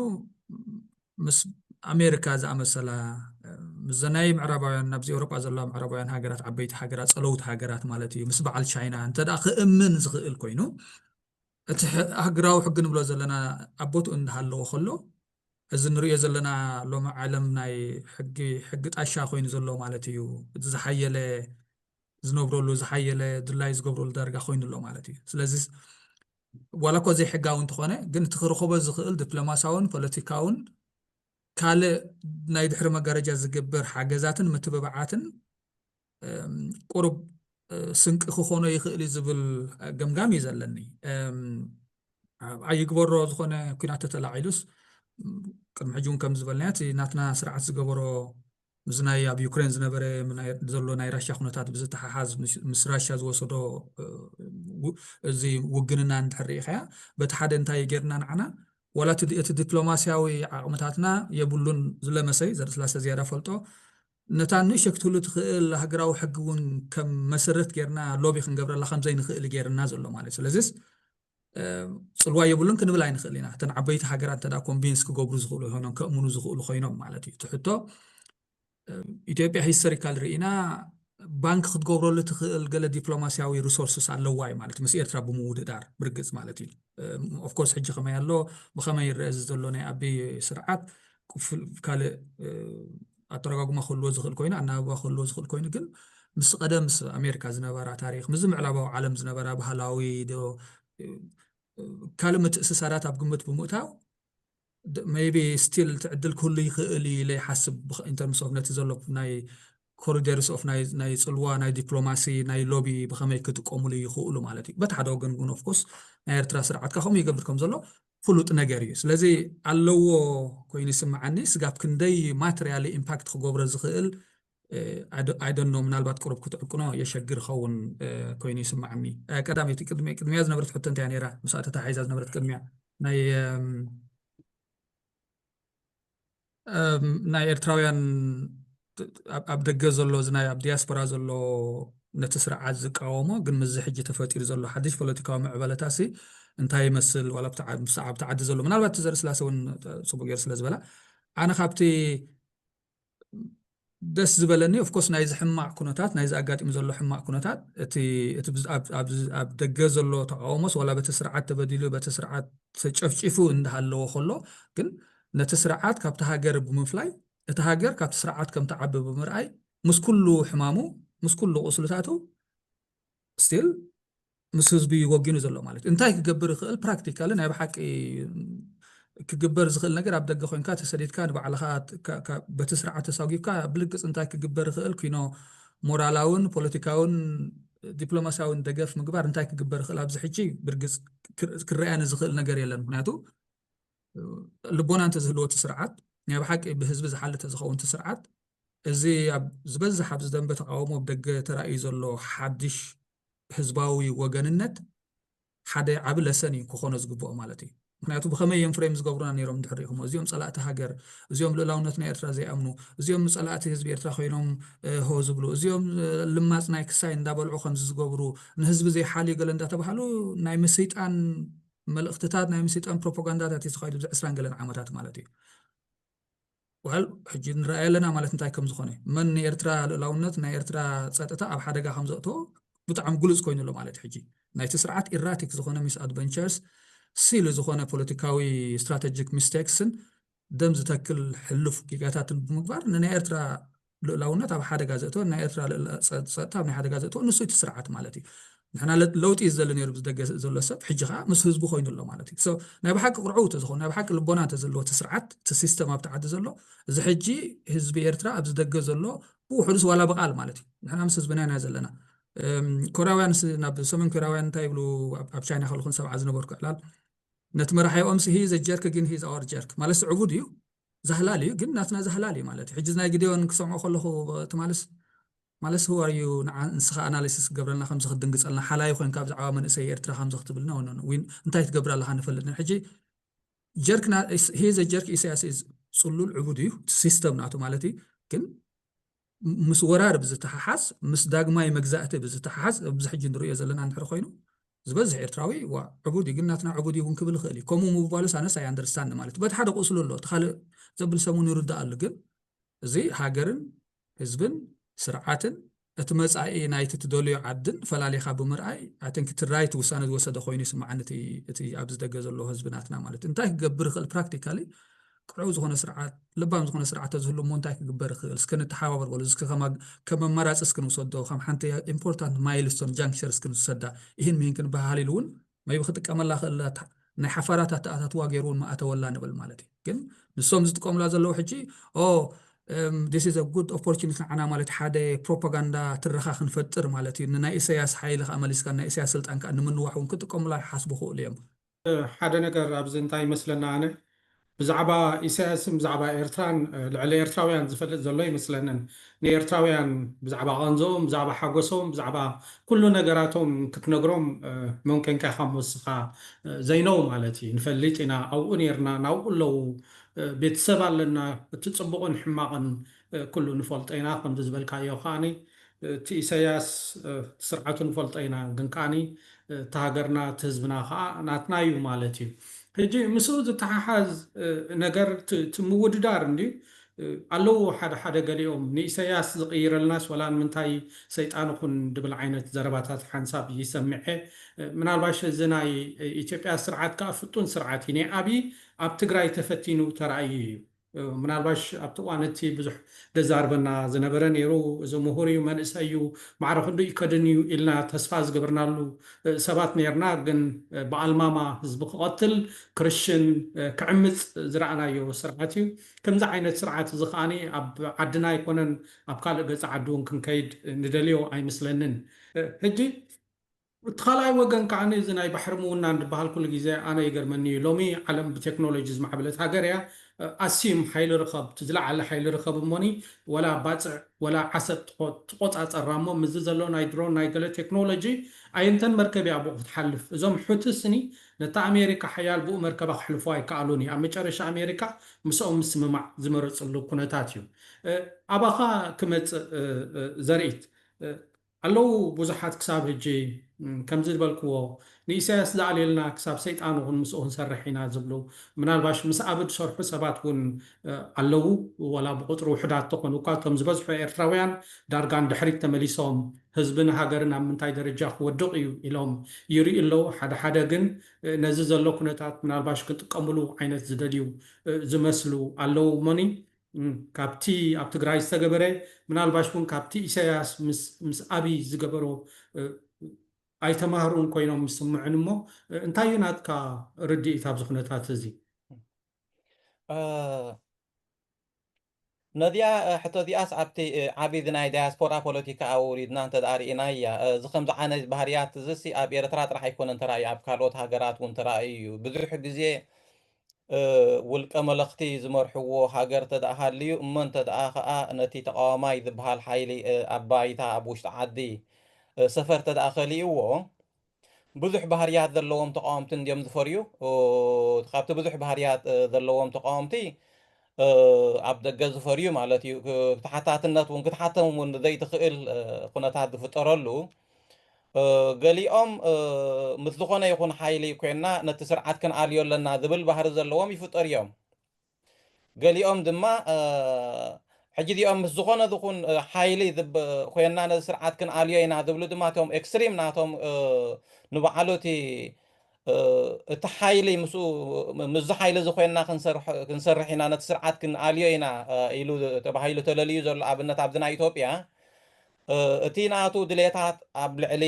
ምስ ኣሜሪካ ዝኣመሰላ ምስዘን ናይ ምዕራባውያን ናብዚ ኤውሮጳ ዘለዋ ምዕራባውያን ሃገራት ዓበይቲ ሃገራት ጸለውቲ ሃገራት ማለት እዩ ምስ በዓል ቻይና እንተ ክእምን ዝኽእል ኮይኑ እቲ ሃገራዊ ሕጊ ንብሎ ዘለና ኣብ ቦትኡ እንዳሃለዎ ከሎ እዚ ንሪኦ ዘለና ሎሚ ዓለም ናይ ሕጊ ሕጊ ጣሻ ኮይኑ ዘሎ ማለት እዩ እቲ ዝሓየለ ዝነብረሉ ዝሓየለ ድላዩ ዝገብረሉ ዳርጋ ኮይኑ ኣሎ ማለት እዩ ስለዚ ዋላ እኳ ዘይሕጋዊ እንተኾነ ግን እቲ ክረኸቦ ዝኽእል ዲፕሎማሲያውን ፖለቲካውን ካልእ ናይ ድሕሪ መጋረጃ ዝግበር ሓገዛትን ምትብባዓትን ቁሩብ ስንቂ ክኾኖ ይኽእል እዩ ዝብል ገምጋም እዩ ዘለኒ ኣይግበሮ ዝኾነ ኩናት ተተላዒሉስ ቅድሚ ሕጂ እውን ከም ዝበልናዮ እቲ ናትና ስርዓት ዝገበሮ ምስ ናይ ኣብ ዩክሬን ዝነበረ ዘሎ ናይ ራሻ ኩነታት ብዝተሓሓዝ ምስ ራሻ ዝወሰዶ እዚ ውግንና እንድሕር ርኢኻያ በቲ ሓደ እንታይ ጌርና ንዓና ዋላ እቲ ዲፕሎማስያዊ ዓቕምታትና የብሉን ዝለመሰይ ዘርእስላሰ ዝያዳ ፈልጦ ነታ ንእሸ ክትህሉ ትኽእል ሃገራዊ ሕጊ እውን ከም መሰረት ጌርና ሎቢ ክንገብረላ ከም ዘይንኽእል ጌርና ዘሎ ማለት እዩ ስለዚስ ጽልዋ የብሉን ክንብል ኣይንኽእል ኢና እተን ዓበይቲ ሃገራት እንተዳ ኮንቪንስ ክገብሩ ዝኽእሉ ይኾኖም ከእምኑ ዝኽእሉ ኮይኖም ማለት እዩ እቲ ሕቶ ኢትዮጵያ ሂስተሪካል ርኢና ባንክ ክትገብረሉ ትኽእል ገለ ዲፕሎማስያዊ ሪሶርስስ ኣለዋ እዩ ማለት ምስ ኤርትራ ብምውድዳር ብርግፅ ማለት እዩ ኦፍኮርስ ሕጂ ከመይ ኣሎ ብኸመይ ይረአ እዚ ዘሎ ናይ ኣቢ ስርዓት ካልእ ኣተረጓጉማ ክህልዎ ዝኽእል ኮይኑ ኣናብባ ክህልዎ ዝኽእል ኮይኑ ግን ምስ ቀደም ምስ ኣሜሪካ ዝነበራ ታሪክ ምስዚ ምዕራባዊ ዓለም ዝነበራ ባህላዊ ዶ ካልእ ምትእስሳራት ኣብ ግምት ብምእታው ሜቢ ስቲል እቲ ዕድል ክህሉ ይኽእል እዩ ኢለ ይሓስብ ኢንተርምስ ኦፍ ነቲ ዘሎ ናይ ኮሪደርስ ኦፍ ናይ ፅልዋ ናይ ዲፕሎማሲ ናይ ሎቢ ብኸመይ ክጥቀሙሉ ይኽእሉ ማለት እዩ በቲ ሓደ ወገን ግን ኦፍኮርስ ናይ ኤርትራ ስርዓትካ ከምኡ ይገብር ከም ዘሎ ፍሉጥ ነገር እዩ ስለዚ ኣለዎ ኮይኑ ይስምዓኒ ስጋብ ክንደይ ማትርያሊ ኢምፓክት ክገብሮ ዝክእል ኣይ ዶንት ኖው ምናልባት ቅሩብ ክትዕቅኖ የሸግር ይከውን ኮይኑ ይስምዓኒ ቀዳመይቲ ቅድሚያ ዝነበረት ሕቶ እንታይ እያ ነይራ ምስኣ ተተሓሒዛ ዝነበረት ቅድሚያ ናይ ናይ ኤርትራውያን ኣብ ደገ ዘሎ እዚ ናይ ኣብ ዲያስፖራ ዘሎ ነቲ ስርዓት ዝቃወሞ ግን ምስዚ ሕጂ ተፈጢሩ ዘሎ ሓድሽ ፖለቲካዊ ምዕበለታ ሲ እንታይ ይመስል ዋላ ኣብቲ ዓዲ ዘሎ ምናልባት እቲ ዘርኢ ስላሴ እውን ፅቡቅ ገይሩ ስለ ዝበላ ኣነ ካብቲ ደስ ዝበለኒ of course ናይዚ ሕማቕ ኩነታት ናይዚ ኣጋጢሙ ዘሎ ሕማቕ ኩነታት እቲ እቲ ብዝ- ኣብ- ኣብዚ- ኣብ ደገ ዘሎ ተቃውሞስ ዋላ በቲ ስርዓት ተበዲሉ በቲ ስርዓት ተጨፍጪፉ እንዳሃለወ ከሎ ግን ነቲ ስርዓት ካብቲ ሃገር ብምፍላይ እቲ ሃገር ካብቲ ስርዓት ከም ትዓቢ ብምርኣይ ምስ ኩሉ ሕማሙ ምስ ኩሉ ቁስልታቱ ስቲል ምስ ህዝቢ እዩ ወጊኑ ዘሎ ማለት እዩ እንታይ ክገብር ይኽእል ፕራክቲካሊ ናይ ብሓቂ ክግበር ዝኽእል ነገር ኣብ ደገ ኮንካ ተሰዲድካ ንባዕልኻ በቲ ስርዓት ተሳጒብካ ብልግፅ እንታይ ክግበር ይኽእል ኩኖ ሞራላውን ፖለቲካውን ዲፕሎማሲያውን ደገፍ ምግባር እንታይ ክግበር ይኽእል ኣብዚ ሕጂ ብርግፅ ክረኣያ ንዝኽእል ነገር የለን ምክንያቱ ልቦና እንተዝህልዎ እቲ ስርዓት ናይ ብሓቂ ብህዝቢ ዝሓልተ ዝኸውን እቲ ስርዓት እዚ ኣብ ዝበዝሕ ኣብዚ ደንበ ተቓውሞ ብደገ ተራእዩ ዘሎ ሓድሽ ህዝባዊ ወገንነት ሓደ ዓቢ ለሰን እዩ ክኾኖ ዝግብኦ ማለት እዩ። ምክንያቱ ብኸመይ እዮም ፍሬም ዝገብሩና ነይሮም እንድሕር ሪኢኹሞ እዚኦም ጸላእቲ ሃገር እዚኦም ልእላውነት ናይ ኤርትራ ዘይኣምኑ እዚኦም ጸላእቲ ህዝቢ ኤርትራ ኮይኖም ሆ ዝብሉ እዚኦም ልማጽ ናይ ክሳይ እንዳበልዑ ከምዚ ዝገብሩ ንህዝቢ ዘይሓልዩ ገለ እንዳተባሃሉ ናይ ምስይጣን መልእኽትታት ናይ ምስይጣን ፕሮፓጋንዳታት እዩ ተኻይዱ ብዚ ዕስራን ገለን ዓመታት ማለት እዩ Well ሕጂ ንረኣዮ ኣለና ማለት እንታይ ከም ዝኾነ መን ንኤርትራ ልእላውነት ናይ ኤርትራ ጸጥታ ኣብ ሓደጋ ከም ዘእተዎ ብጣዕሚ ግሉጽ ኮይኑ ኣሎ ማለት ሕጂ ናይቲ ስርዓት ኢራቲክ ዝኾነ ሚስ ኣድቨንቸርስ ሲሊ ዝኾነ ፖለቲካዊ ስትራቴጂክ ሚስቴክስን ደም ዝተክል ሕሉፍ ጌጋታትን ብምግባር ንናይ ኤርትራ ልኡላውነት ኣብ ሓደጋ ዘእተወ ናይ ኤርትራ ጸጥታ ኣብ ናይ ሓደጋ ዘእተወ ንሱ እቲ ስርዓት ማለት እዩ ንሕና ለውጢ እዩ ዝደሊ ነይሩ ብዝደገ ዘሎ ሰብ ሕጂ ከዓ ምስ ህዝቡ ኮይኑ ኣሎ ማለት እዩ ሰብ ናይ ብሓቂ ቅርዑው ተዝኾኑ ናይ ብሓቂ ልቦና እንተዘለዎ እቲ ስርዓት እቲ ሲስተም ኣብቲ ዓዲ ዘሎ እዚ ሕጂ ህዝቢ ኤርትራ ኣብ ዝደገ ዘሎ ብውሕዱስ ዋላ ብቃል ማለት እዩ ንሕና ምስ ህዝብና ኢና ዘለና ኮርያውያን ናብ ሰሜን ኮርያውያን እንታይ ይብሉ ኣብ ቻይና ከለኹን ሰብዓ ዝነበርኩ ዕላል ነቲ መራሒኦም ስሂ ዘጀርክ ግን ሂዝ ኣወር ጀርክ ማለት ዕቡድ እዩ ዛህላል እዩ ግን ናትና ዛህላል እዩ ማለት እዩ ሕጂ ናይ ግዴዮን ክሰምዖ ከለኹ ትማልስ ማለስ who are you ንዓ ንስኻ ኣናሊሲስ ክገብረልና ከምዚ ክትድንግጸልና ሓላዪ ኮንካ ብዛዕባ መንእሰይ ኤርትራ ከምዚ ክትብል no no no we እንታይ ትገብር ኣለኻ ንፈልጥ ኢና ሕጂ ጀርክና he is a jerk ኢሳያስ is ጽሉል ዕቡድ እዩ እቲ ሲስተም ናቱ ማለት እዩ ግን ምስ ወራር ብዝተሓሓዝ፣ ምስ ዳግማይ መግዛእቲ ብዝተሓሓዝ፣ ኣብዚ ሕጂ እንርእዮ ዘለና እንድሕሪ ኮይኑ፣ ዝበዝሕ ኤርትራዊ ዋእ ዕቡድ'ዩ ግን ናትና ዕቡድ'ዩ ውን ክብል ይኽእል'ዩ። ከምኡ ምባሉስ ኣነስ ኣይ ኣንደርስታንድ ማለት በቲ ሓደ ቁስሉ ኣሎ እቲ ካልእ ዘብል ሰብ ውን ይርድኣሉ ግን እዚ ሃገርን ህዝብን ስርዓትን እቲ መጻኢ ናይቲ ትደልዮ ዓድን ፈላሊኻ ብምርኣይ ኣይ ቲንክ እቲ ራይት ውሳነ ዝወሰደ ኮይኑ ይስምዓኒ እቲ ኣብዚ ደገ ዘሎ ህዝቢ ናትና ማለት እንታይ ክገብር ይኽእል ፕራክቲካሊ ቅኑዕ ዝኾነ ስርዓት ለባም ዝኾነ ስርዓት ተዝህሉ እሞ እንታይ ክግበር ይኽእል እስከ ንተሓባበር በሉ እስከ ከም ኣማራፂ እስኪ ንውሰዶ ከም ሓንቲ ኢምፖርታንት ማይልስቶን ጃንክቸር እስኪ ንውሰዳ ይህን ምሂን ክንበሃሃል ኢሉ እውን መይቢ ክጥቀመላ ክእል ናይ ሓፋራት ኣተኣታትዋ ገይሩ እውን ምኣተወላ ንብል ማለት እዩ ግን ንሶም ዝጥቀሙላ ዘለዉ ሕጂ ኦ ዲስ ኢዝ ጉድ ኦፖርቹኒቲ ንዓና ማለት ሓደ ፕሮፓጋንዳ ትረኻ ክንፈጥር ማለት እዩ ንናይ ኢሳያስ ሓይሊ ከዓ መሊስካ ናይ ኢሳያስ ስልጣን ከዓ ንምንዋሕ እውን ክጥቀሙላ ክሓስቡ ክእሉ እዮም ሓደ ነገር ኣብዚ እንታይ ይመስለኒ ኣነ ብዛዕባ ኢሳያስን ብዛዕባ ኤርትራን ልዕሊ ኤርትራውያን ዝፈልጥ ዘሎ ኣይመስለንን። ንኤርትራውያን ብዛዕባ ቃንዝኦም፣ ብዛዕባ ሓጎሶም፣ ብዛዕባ ኩሉ ነገራቶም ክትነግሮም መን ኮንካ ኢኻ እሞ እስኻ ዘይነው ማለት እዩ። ንፈልጥ ኢና ኣብኡ ኔርና ናብኡ ኣለዉ ቤተሰብ ኣለና እቲ ጽቡቕን ሕማቕን ኩሉ ንፈልጦ ኢና ከምዚ ዝበልካዮ ከኣ እቲ ኢሰያስ እቲ ስርዓቱ ንፈልጦ ኢና ግን ከኣ እቲ ሃገርና እቲ ህዝብና ከኣ ናትና እዩ ማለት እዩ ህጂ ምስኡ ዝተሓሓዝ ነገር እቲ ምውድዳር እንድዩ ኣለዉ ሓደ ሓደ ገሊኦም ንኢሰያስ ዝቅይረልናስ ወላ ንምንታይ ሰይጣን ኹን ድብል ዓይነት ዘረባታት ሓንሳብ ይሰምዔ ምናልባሽ እዚ ናይ ኢትዮጵያ ስርዓት ከኣ ፍጡን ስርዓት እዩ ናይ ኣብይ ኣብ ትግራይ ተፈቲኑ ተራእዩ እዩ ምናልባሽ ኣብቲ እዋን እቲ ብዙሕ ደዛርበና ዝነበረ ነይሩ፣ እዚ ምሁር እዩ፣ መንእሰይ እዩ፣ ማዕረ ክንድኡ ይከድን እዩ ኢልና ተስፋ ዝገበርናሉ ሰባት ነይርና፣ ግን ብኣልማማ ህዝቢ ክቐትል፣ ክርሽን፣ ክዕምጽ ዝረኣናዮ ስርዓት እዩ። ከምዚ ዓይነት ስርዓት እዚ ከኣ ኣብ ዓድና ኣይኮነን ኣብ ካልእ ገጸ ዓዲ እውን ክንከይድ ንደልዮ ኣይመስለንን። ሕጂ ብቲ ካልኣይ ወገን ከኣ እዚ ናይ ባሕሪ ምውናን ድበሃል ኩሉ ግዜ ኣነ ይገርመኒ እዩ ሎሚ ዓለም ብቴክኖሎጂ ዝማዕበለት ሃገር እያ ኣስዩም ሓይሊ ርኸብ እቲ ዝለዓለ ሓይሊ ርኸብ እሞኒ ወላ ባጽዕ ወላ ዓሰብ ትቆጻጸራ እሞ ምስዚ ዘሎ ናይ ድሮን ናይ ገለ ቴክኖሎጂ ኣየንተን መርከብ እያ ብኡ ክትሓልፍ እዞም ሑቲ ስኒ ነታ ኣሜሪካ ሓያል ብኡ መርከባ ክሕልፍዋ ኣይከኣሉን እዩ ኣብ መጨረሻ ኣሜሪካ ምስኦም ምስምማዕ ዝመረጽሉ ኩነታት እዩ ኣባኻ ክመጽእ ዘርኢት ኣለዉ ቡዙሓት ክሳብ ህጂ ከምዚ ዝበልክዎ ንኢሳያስ ዝኣልየልና ክሳብ ሰይጣን ውን ምስኡ ክንሰርሕ ኢና ዝብሉ ምናልባሽ ምስ ኣብይ ዝሰርሑ ሰባት ውን ኣለዉ ወላ ብቁጽሪ ውሑዳት ተኮኑ እኳ እቶም ዝበዝሑ ኤርትራውያን ዳርጋ ንድሕሪት ተመሊሶም ህዝብን ሃገርን ኣብ ምንታይ ደረጃ ክወድቅ ኢዩ ኢሎም ይርእዩ ኣለዉ ሓደ ሓደ ግን ነዚ ዘሎ ኩነታት ምናልባሽ ክጥቀምሉ ዓይነት ዝደልዩ ዝመስሉ ኣለዉ እሞኒ ካብቲ ኣብ ትግራይ ዝተገበረ ምናልባሽ እውን ካብቲ ኢሳያስ ምስ ኣብይ ዝገበሮ ኣይተማህሩን ኮይኖም ይስምዑኒ እሞ እንታይ እዩ ናትካ ርድኢት ኣብዚ ኩነታት እዚ? ነዚኣ ሕቶ እዚኣስ ኣብቲ ዓቢ እዚ ናይ ዳያስፖራ ፖለቲካ ኣውሪድና እንተ ርኢናያ እዚ ከምዚ ዓይነት ባህርያት እዚሲ ኣብ ኤርትራ ጥራሕ ኣይኮነን ተራእዩ ኣብ ካልኦት ሃገራት እውን ተራእዩ እዩ ብዙሕ ግዜ ውልቀ መለኽቲ ዝመርሕዎ ሃገር እንተድኣ ሃልዩ እሞ እንተድኣ ከኣ ነቲ ተቓዋማይ ዝብሃል ሓይሊ ኣብ ባይታ ኣብ ውሽጢ ዓዲ ሰፈር እንተድኣ ከሊኡዎ ብዙሕ ባህርያት ዘለዎም ተቓወምቲ እንድዮም ዝፈርዩ። ካብቲ ብዙሕ ባህርያት ዘለዎም ተቓወምቲ ኣብ ደገ ዝፈርዩ ማለት እዩ። ተሓታትነት እውን ክትሓተም እውን ዘይትኽእል ኩነታት ዝፍጠረሉ ገሊኦም ምስ ዝኾነ ይኹን ሓይሊ ኮይንና ነቲ ስርዓት ክንኣልዮ ኣለና ዝብል ባህሪ ዘለዎም ይፍጠሩ እዮም። ገሊኦም ድማ ሕጂ እዚኦም ምስ ዝኾነ ዝኹን ሓይሊ ኮይንና ነዚ ስርዓት ክንኣልዮ ኢና ዝብሉ ድማ እቶም ኤክስትሪም ናቶም ንባዕሉ እቲ እቲ ሓይሊ ምስኡ ምስዚ ሓይሊ እዚ ኮይንና ክንሰርሕ ኢና ነቲ ስርዓት ክንኣልዮ ኢና ኢሉ ተባሂሉ ተለልዩ ዘሎ ኣብነት ኣብዚ ናይ ኢትዮጵያ እቲ ናቱ ድሌታት ኣብ ልዕሊ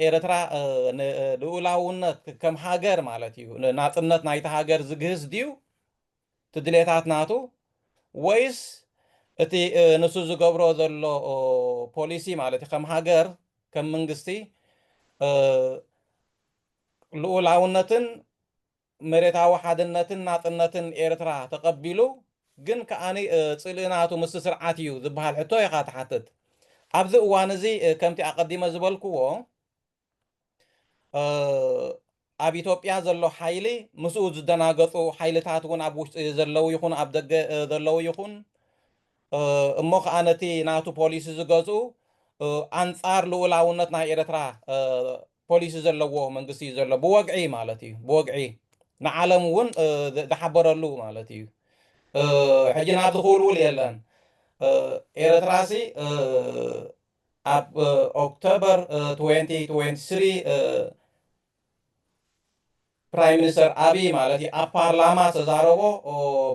ኤርትራ ንልኡላውነት ከም ሃገር ማለት እዩ ናጽነት ናይቲ ሃገር ዝግህስ ድዩ እቲ ድሌታት ናቱ ወይስ እቲ ንሱ ዝገብሮ ዘሎ ፖሊሲ ማለት እዩ ከም ሃገር ከም መንግስቲ ልኡላውነትን መሬታዊ ሓድነትን ናጽነትን ኤርትራ ተቐቢሉ ግን ከኣ ጽልኢ ናቱ ምስቲ ስርዓት እዩ ዝበሃል ሕቶ ኢኻ ትሓትት። ኣብዚ እዋን እዚ ከምቲ ኣቐዲመ ዝበልክዎ ኣብ ኢትዮጵያ ዘሎ ሓይሊ ምስኡ ዝደናገጹ ሓይልታት እውን ኣብ ውሽጢ ዘለዉ ይኹኑ ኣብ ደገ ዘለዉ ይኹን እሞ ከኣ ነቲ ናቱ ፖሊሲ ዝገዝኡ ኣንጻር ልኡላውነት ናይ ኤርትራ ፖሊሲ ዘለዎ መንግስቲ እዩ ዘሎ ብወግዒ ማለት እዩ ብወግዒ ንዓለም እውን ዝሓበረሉ ማለት እዩ ሕጂ ናብ ዝኽውልውል የለን ኤረትራሲ ኣብ ኦክቶበር 2023 ፕራይም ሚኒስተር ኣብይ ማለት እዩ ኣብ ፓርላማ ዝተዛረቦ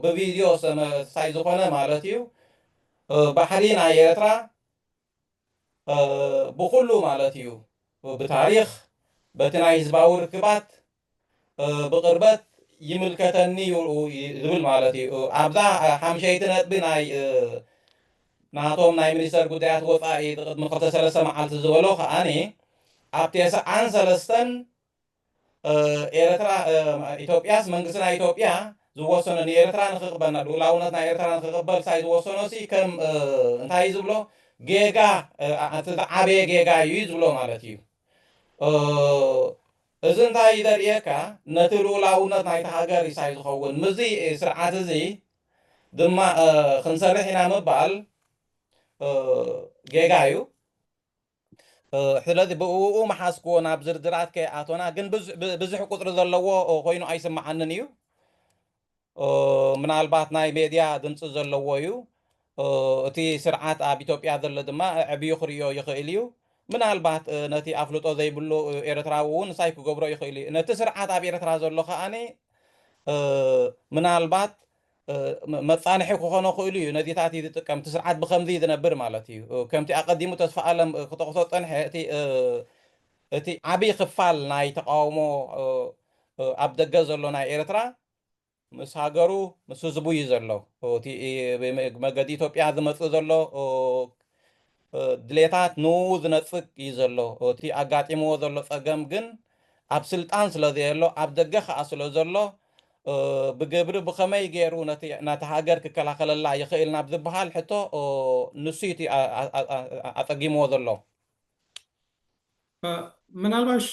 ብቪድዮ ዝተመሳይ ዝኾነ ማለት እዩ ባሕሪ ናይ ኤርትራ ብኹሉ ማለት እዩ ብታሪኽ በቲ ናይ ህዝባዊ ርክባት ብቕርበት ይምልከተኒ እዩ ዝብል ማለት እዩ። ኣብዛ ሓምሸይቲ ነጥቢ ናይ ናቶም ናይ ሚኒስተር ጉዳያት ወጻኢ ቅድሚ ክልተ ሰለስተ መዓልቲ ዝበሎ ከኣ ኣብ ቴስዓን ሰለስተን ኤረትራ ኢትዮጵያስ መንግስቲ ናይ ኢትዮጵያ ዝወሰኖ ንኤረትራ ንክቅበል ናብ ልኡላውነት ናይ ኤረትራ ንክቅበል ሳይ ዝወሰኖ ሲ ከም እንታይ እዩ ዝብሎ ጌጋ ኣቲ ዝዓበየ ጌጋ እዩ እዩ ዝብሎ ማለት እዩ እዚ እንታይ እዩ ዘርእየካ ነቲ ልኡላውነት ናይቲ ሃገር ሳይ ዝኸውን ምዚ ስርዓት እዚ ድማ ክንሰርሕ ኢና ምባል ጌጋ እዩ ስለዚ ብእኡ መሓዝክዎ ናብ ዝርዝራት ከይኣቶና ግን ብዝሕ ቁፅሪ ዘለዎ ኮይኑ ኣይስምዓንን እዩ ምናልባት ናይ ሜድያ ድምፂ ዘለዎ እዩ እቲ ስርዓት ኣብ ኢትዮጵያ ዘሎ ድማ ዕብዩ ክርዮ ይኽእል እዩ ምናልባት ነቲ ኣፍልጦ ዘይብሉ ኤርትራዊ እውን ንሳይ ክገብሮ ይኽእል እዩ ነቲ ስርዓት ኣብ ኤርትራ ዘሎ ከዓኒ ምናልባት መጻንሒ ክኾኖ ክእሉ እዩ ነዚታት እዩ ዝጥቀም እቲ ስርዓት ብከምዚ እዩ ዝነብር ማለት እዩ ከምቲ ኣቀዲሙ ተስፋ ኣለም ክጠቕሶ ዝጸንሐ እቲ እቲ ዓብይ ክፋል ናይ ተቃውሞ ኣብ ደገ ዘሎ ናይ ኤርትራ ምስ ሃገሩ ምስ ህዝቡ እዩ ዘሎ እቲ መገዲ ኢትዮጵያ ዝመጽእ ዘሎ ድሌታት ንኡኡ ዝነጽግ እዩ ዘሎ። እቲ ኣጋጢምዎ ዘሎ ጸገም ግን ኣብ ስልጣን ስለዘየሎ ኣብ ደገ ከኣ ስለዘሎ ብግብሪ ብኸመይ ገይሩ ነታ ሃገር ክከላኸለላ ይኽእል ናብ ዝበሃል ሕቶ ንሱ እቲ ኣጸጊምዎ ዘሎ። ምናልባሽ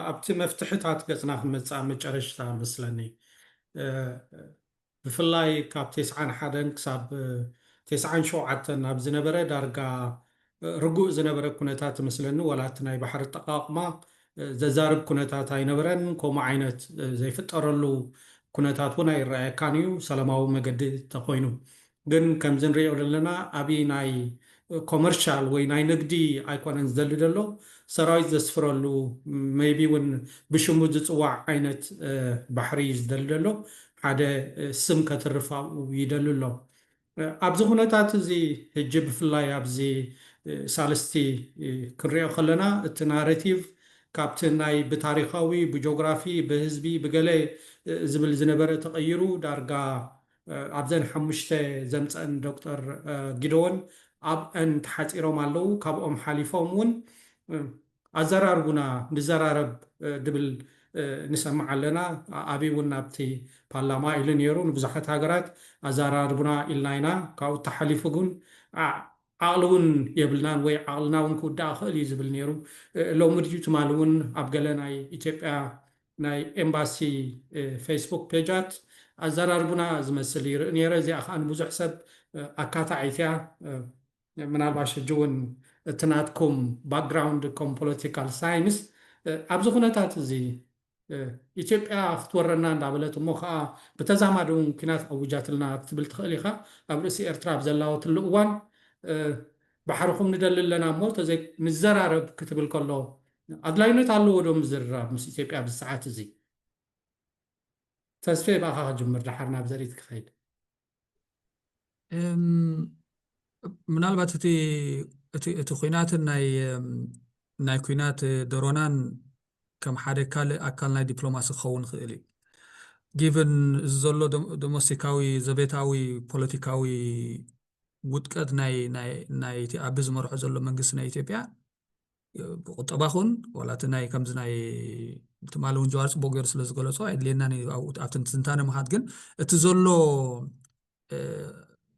ኣብቲ መፍትሕታት ገጽና ክንመጽእ ኣብ መጨረሽታ መስለኒ። ብፍላይ ካብ ቴስዓን ሓደን ክሳብ ቴስዓን ሸውዓተን ኣብ ዝነበረ ዳርጋ ርጉእ ዝነበረ ኩነታት እመስለኒ ወላ እቲ ናይ ባሕሪ ኣጠቓቕማ ዘዛርብ ኩነታት ኣይነበረን ከምኡ ዓይነት ዘይፍጠረሉ ኩነታት እውን ኣይረኣየካን እዩ ሰላማዊ መገዲ ተኾይኑ ግን ከምዚ ንሪኦ ዘለና ኣብይ ናይ ኮመርሻል ወይ ናይ ንግዲ ኣይኮነን ዝደሊ ዘሎ ሰራዊት ዘስፍረሉ ሜይቢ እውን ብሽሙ ዝፅዋዕ ዓይነት ባሕሪ እዩ ዝደሊ ዘሎ ሓደ ስም ከትርፍ ኣብኡ ይደሊ ኣሎ። ኣብዚ ኩነታት እዚ ህጂ ብፍላይ ኣብዚ ሳልስቲ ክንሪኦ ከለና እቲ ናረቲቭ ካብቲ ናይ ብታሪኻዊ ብጆግራፊ ብህዝቢ ብገለ ዝብል ዝነበረ ተቐይሩ ዳርጋ ኣብዘን ሓሙሽተ ዘምጸኣን ዶክተር ጊደዎን ኣብኣን ተሓጺሮም ኣለዉ ካብኦም ሓሊፎም ውን ኣዘራርቡና ንዘራረብ ድብል ንሰምዕ ኣለና ኣብይ እውን ናብቲ ፓርላማ ኢሉ ነይሩ ንብዙሓት ሃገራት ኣዘራርቡና ኢልና ኢና ካብኡ ተሓሊፉ ግን ዓቕሊ እውን የብልናን ወይ ዓቕልና እውን ክውዳእ ይኽእል እዩ ዝብል ነይሩ ሎሚ ድዩ ትማሊ እውን ኣብ ገለ ናይ ኢትዮጵያ ናይ ኤምባሲ ፌስቡክ ፔጃት ኣዘራርቡና ዝመስል ይርኢ ነይረ እዚኣ ከዓ ንብዙሕ ሰብ ኣካታዒት እያ ምናልባሽ ሕጂ እውን እቲ ናትኩም ባክግራውንድ ከም ፖለቲካል ሳይንስ ኣብዚ ኩነታት እዚ ኢትዮጵያ ክትወረና እንዳበለት እሞ ከዓ ብተዛማዲ እውን ኩናት ኣውጃትልና ክትብል ትኽእል ኢኻ ኣብ ርእሲ ኤርትራ ኣብ ዘላወትሉ እዋን ባሕርኹም ንደሊ ኣለና እሞ ተዘይ ንዘራረብ ክትብል ከሎ ኣድላይነት ኣለዎ ዶ ምዝርራብ ምስ ኢትዮጵያ ኣብዚ ሰዓት እዚ ተስፌ ብኣኻ ክጅምር ደሓር ናብ ዘርኢት ክኸይድ ምናልባት እቲ እቲ እቲ ኩናትን ናይ ናይ ኩናት ደሮናን ከም ሓደ ካልእ ኣካል ናይ ዲፕሎማሲ ክኸውን ይኽእል እዩ ጊቨን እዚ ዘሎ ዶሞስቲካዊ ዘቤታዊ ፖለቲካዊ ውጥቀት ናይ ናይቲ ኣቢ ዝመርሖ ዘሎ መንግስቲ ናይ ኢትዮጵያ ብቁጠባ ኹን ዋላ እቲ ናይ ከምዚ ናይ ትማሊ እውን ጀዋር ፅቡቅ ገይሩ ስለ ዝገለፆ ኣየድልየናን እዩ ኣብቲ ትንታነ ምኻድ ግን እቲ ዘሎ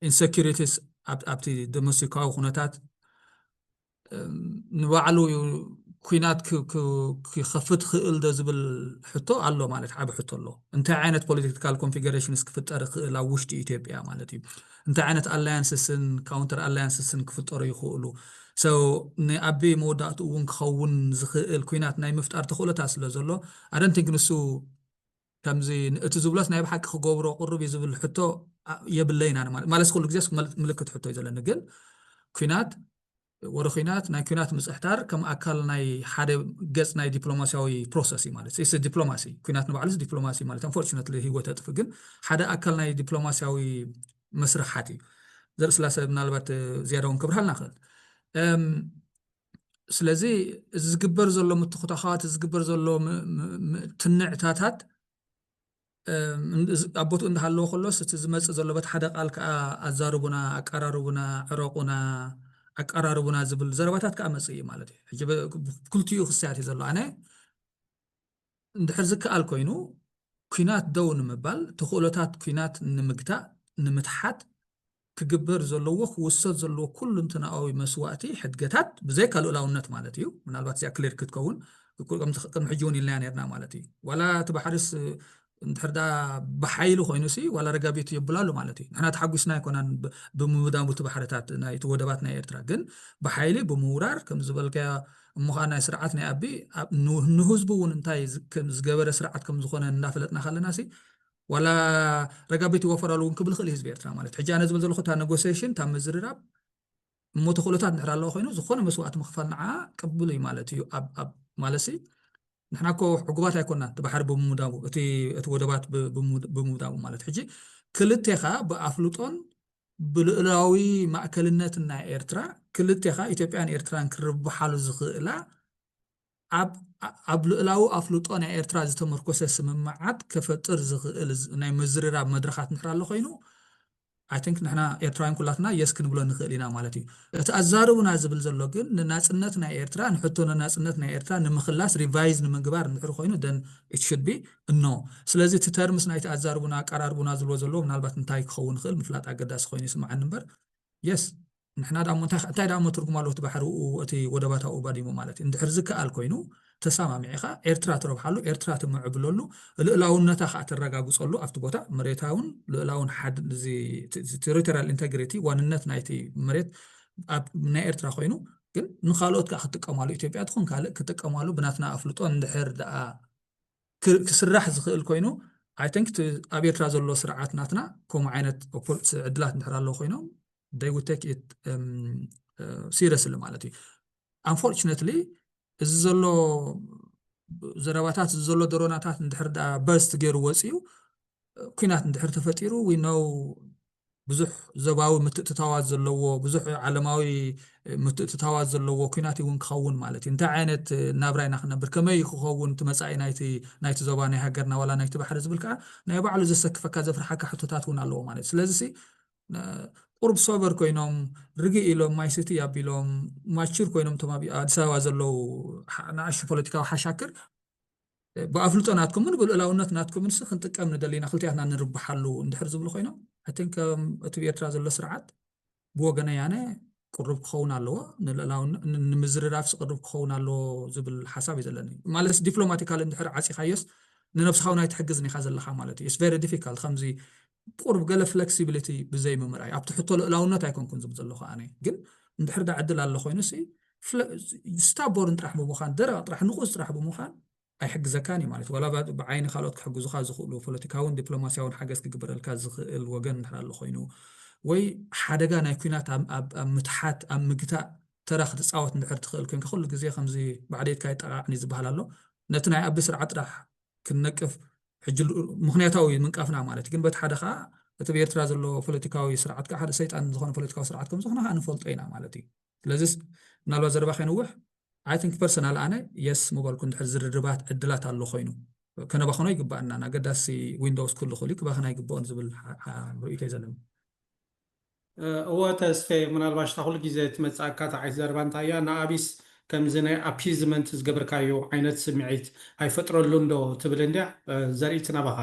ኢንሰኪሪቲስ ኣብቲ ዶሜስቲካዊ ኩነታት ንባዕሉ ኩናት ክኸፍት ክእል ዶ ዝብል ሕቶ ኣሎ ማለት ዓብ ሕቶ ኣሎ እንታይ ዓይነት ፖለቲካል ኮንፊገሬሽንስ ክፍጠር ክእል ኣብ ውሽጢ ኢትዮጵያ ማለት እዩ እንታይ ዓይነት ኣላያንስስን ካውንተር ኣላያንስስን ክፍጠሩ ይኽእሉ? So ንኣቢ መወዳእትኡ እውን ክኸውን ዝኽእል ኲናት ናይ ምፍጣር ተኽእሎታት ስለ ዘሎ I don't think ንሱ ከምዚ እቲ ዝብሎስ ናይ ብሓቂ ክገብሮ ቅሩብ እዩ ዝብል ሕቶ የብለይን ኣነ ማለት ማለትስ ኩሉ ግዜስ ምልክት ሕቶ እዩ ዘለኒ ግን ኲናት ወረ ኩናት ናይ ኩናት ምጽሕታር ከም ኣካል ናይ ሓደ ገጽ ናይ ዲፕሎማሲያዊ ፕሮሰስ እዩ ማለት ስ ዲፕሎማሲ ኩናት ንባዕሉስ ዲፕሎማሲ ማለት ኣንፎርቹነት ህይወት ኣጥፍ ግን ሓደ ኣካል ናይ ዲፕሎማሲያዊ መስርሓት እዩ ዘርኢ ስላሰ ምናልባት ዝያዳ እውን ክብርሃልና ክእል ስለዚ እዚ ዝግበር ዘሎ ምትኩታኻት ዝግበር ዘሎ ትንዕታታት ኣብ ቦትኡ እንዳሃለወ ከሎስ እቲ ዝመጽእ ዘሎ በቲ ሓደ ቃል ከኣ ኣዛርቡና ኣቃራርቡና ዕረቁና ኣቃራርቡና ዝብል ዘረባታት ከኣ መጽእ እዩ ማለት እዩ ሕጂ ክልቲኡ ክስያት እዩ ዘሎ ኣነ እንድሕር ዝከኣል ኮይኑ ኩናት ደው ንምባል ተኽእሎታት ኩናት ንምግታእ ንምትሓት ክግበር ዘለዎ ክውሰድ ዘለዎ ኩሉንትናኣዊ መስዋእቲ ሕድገታት ብዘይካ ልኡላውነት ማለት እዩ ምናልባት እዚኣ ክሊር ክትከውን ቅድሚ ሕጂ እውን ኢልናያ ነርና ማለት እዩ ዋላ እቲ ባሕሪስ እንድሕር ዳ ብሓይሊ ኮይኑሲ ዋላ ረጋቢቱ የብላሉ ማለት እዩ ንሕና ተሓጒስና ኣይኮናን ብምውዳሙ እቲ ባሕርታት ናይቲ ወደባት ናይ ኤርትራ ግን ብሓይሊ ብምውራር ከም ዝበልካዮ እሞ ከዓ ናይ ስርዓት ናይ ኣቢ ንህዝቡ እውን እንታይ ዝገበረ ስርዓት ከም ዝኾነ እናፈለጥና ከለና ሲ ዋላ ረጋቢት ይወፈራሉ እውን ክብል ይኽእል ህዝቢ ኤርትራ ማለት ሕጂ ኣነ ዝብል ዘለኹ እታ ነጎሴሽን እታ ምዝርራብ እሞ ተኽእሎታት እንድሕር ኣለዎ ኮይኑ ዝኾነ መስዋእቲ ምኽፋል ንዓ ቅብሉ እዩ ማለት እዩ ኣብ ማለት ሲ ንሕና እኮ ዕጉባት ኣይኮና እቲ ባሕሪ ብምውዳቡ እቲ ወደባት ብምውዳቡ ማለት ሕጂ ክልቴኻ ብኣፍልጦን ብልእላዊ ማእከልነት ናይ ኤርትራ ክልቴኻ ኢትዮጵያን ኤርትራን ክርብሓሉ ዝኽእላ ኣብ ኣብ ልኡላዊ ኣፍልጦ ናይ ኤርትራ ዝተመርኮሰ ስምምዓት ከፈጥር ዝኽእል ናይ ምዝርራብ መድረኻት እንድሕር ኣሎ ኮይኑ ኣይ ቲንክ ንሕና ኤርትራውያን ኩላትና የስ ክንብሎ ንኽእል ኢና ማለት እዩ እቲ ኣዛርቡና ዝብል ዘሎ ግን ንናጽነት ናይ ኤርትራ ንሕቶ ንናጽነት ናይ ኤርትራ ንምኽላስ ሪቫይዝ ንምግባር እንድሕር ኮይኑ ደን ኢት ሹድ ቢ እኖ ስለዚ እቲ ተርምስ ናይቲ ኣዛርቡና ኣቀራርቡና ዝብሎ ዘለዎ ምናልባት እንታይ ክኸውን ይኽእል ምፍላጥ ኣገዳሲ ኮይኑ ይስምዓኒ እምበር የስ ንሕና ደኣሞ እንታይ እንታይ ደኣሞ ትርጉም ኣለዎ እቲ ባሕሪኡ እቲ ወደባት ኣብኡ ባዲሙ ማለት እዩ እንድሕር ዝከኣል ኮይኑ ተሰማሚዕኻ ኤርትራ ትረብሓሉ ኤርትራ ትምዕብለሉ ልእላውነታ ከዓ ተረጋግፀሉ ኣብቲ ቦታ መሬታውን ልእላውን ቴሪቶሪያል ኢንቴግሪቲ ዋንነት ናይቲ መሬት ኣብ ናይ ኤርትራ ኮይኑ ግን ንካልኦት ከዓ ክጥቀማሉ ኢትዮጵያ ትኹን ካልእ ክጥቀማሉ ብናትና ኣፍልጦ እንድሕር ደኣ ክስራሕ ዝክእል ኮይኑ ኣይ ቲንክ እቲ ኣብ ኤርትራ ዘሎ ስርዓት ናትና ከምኡ ዓይነት ዕድላት እንድሕር ኣለዉ ኮይኖም they would take it seriously ማለት እዩ unfortunately እዚ ዘሎ ዘረባታት እዚ ዘሎ ደሮናታት እንድሕር ዳ በርስት ገይሩ ወፂኡ ኩናት እንድሕር ተፈጢሩ we know ብዙሕ ዘባዊ ምትእትታዋት ዘለዎ ብዙሕ ዓለማዊ ምትእትታዋት ዘለዎ ኩናት እውን ክኸውን ማለት እዩ እንታይ ዓይነት ናብራ ኢና ክነብር ከመይ እዩ ክኸውን እቲ መፃኢ ናይቲ ዞባ ናይ ሃገርና ዋላ ናይቲ ባሕሪ ዝብል ከዓ ናይ ባዕሉ ዘሰክፈካ ዘፍርሓካ ሕቶታት እውን ኣለዎ ማለት እዩ ስለዚ ቁርብ ሶበር ኮይኖም ርግእ ኢሎም ማይ ስቲ ኣቢሎም ማቹር ኮይኖም እቶም ኣብ ኣዲስ ኣበባ ዘለዉ ንኣሽቱ ፖለቲካዊ ሓሻክር ብኣፍልጦ ናትኩምን ብልኡላውነት ናትኩምን ሲ ክንጥቀም ንደሊና ክልቲኣትና ንርብሓሉ እንድሕር ዝብሉ ኮይኖም ኣይቲንክ ከም እቲ ብኤርትራ ዘሎ ስርዓት ብወገነይ ኣነ ቅሩብ ክኸውን ኣለዎ ንምዝርራፍ ስቅርብ ክኸውን ኣለዎ ዝብል ሓሳብ እዩ ዘለኒ ማለት ዲፕሎማቲካል እንድሕር ዓፂኻዮስ ንነብስኻ እውን ኣይትሕግዝን ኢኻ ዘለኻ ማለት እዩ ቨሪ ዲፊካልት ከምዚ ቁሩብ ገለ ፍለክሲብሊቲ ብዘይ ምምርኣይ ኣብቲ ሕቶ ልእላውነት ኣይኮንኩን ዝብል ዘለኹ ኣነ ግን እንድሕር ዳ ዕድል ኣሎ ኮይኑሲ ስታቦርን ጥራሕ ብምዃን ደረቕ ጥራሕ ንቑስ ጥራሕ ብምዃን ኣይሕግዘካን እዩ ማለት ዋላ ብዓይኒ ካልኦት ክሕግዙኻ ዝኽእሉ ፖለቲካውን ዲፕሎማስያውን ሓገዝ ክግበረልካ ዝኽእል ወገን እንድሕር ኣሎ ኮይኑ ወይ ሓደጋ ናይ ኩናት ኣብ ምትሓት ኣብ ምግታእ ተራ ክትፃወት እንድሕር ትኽእል ኮይንካ ኩሉ ግዜ ከምዚ ባዕደይትካ ይጠቃዕኒ ዝበሃል ኣሎ ነቲ ናይ ኣቢ ስርዓት ጥራሕ ክንነቅፍ ሕጂ ምክንያታዊ እዩ ምንቃፍና ማለት ግን በቲ ሓደ ከዓ እቲ ብኤርትራ ዘሎ ፖለቲካዊ ስርዓት ከዓ ሓደ ሰይጣን ዝኾነ ፖለቲካዊ ስርዓት ከም ዝኾነ ከዓ ንፈልጦ ኢና ማለት እዩ ስለዚስ ምናልባት ዘረባ ከይንውሕ ኣይ ቲንክ ፐርሰናል ኣነ የስ ምበልኩ እንድሕር ዝርርባት ዕድላት ኣሎ ኮይኑ ከነባኸኖ ይግባኣና ኣገዳሲ ዊንዶውስ ክህሉ ክእሉ ክባኸና ይግብኦን ዝብል ርእይቶ እዩ ዘለኒ እወ ተስፌ ምናልባሽ እታ ኩሉ ግዜ ትመጽኣካ እታ ዓይነት ዘረባ እንታይ እያ ንኣብይስ ከምዚ ናይ ኣፒዝመንት ዝገብርካዮ ዓይነት ስምዒት ኣይፈጥረሉን ዶ ትብል እንድያ ዘርኢት ናባኻ።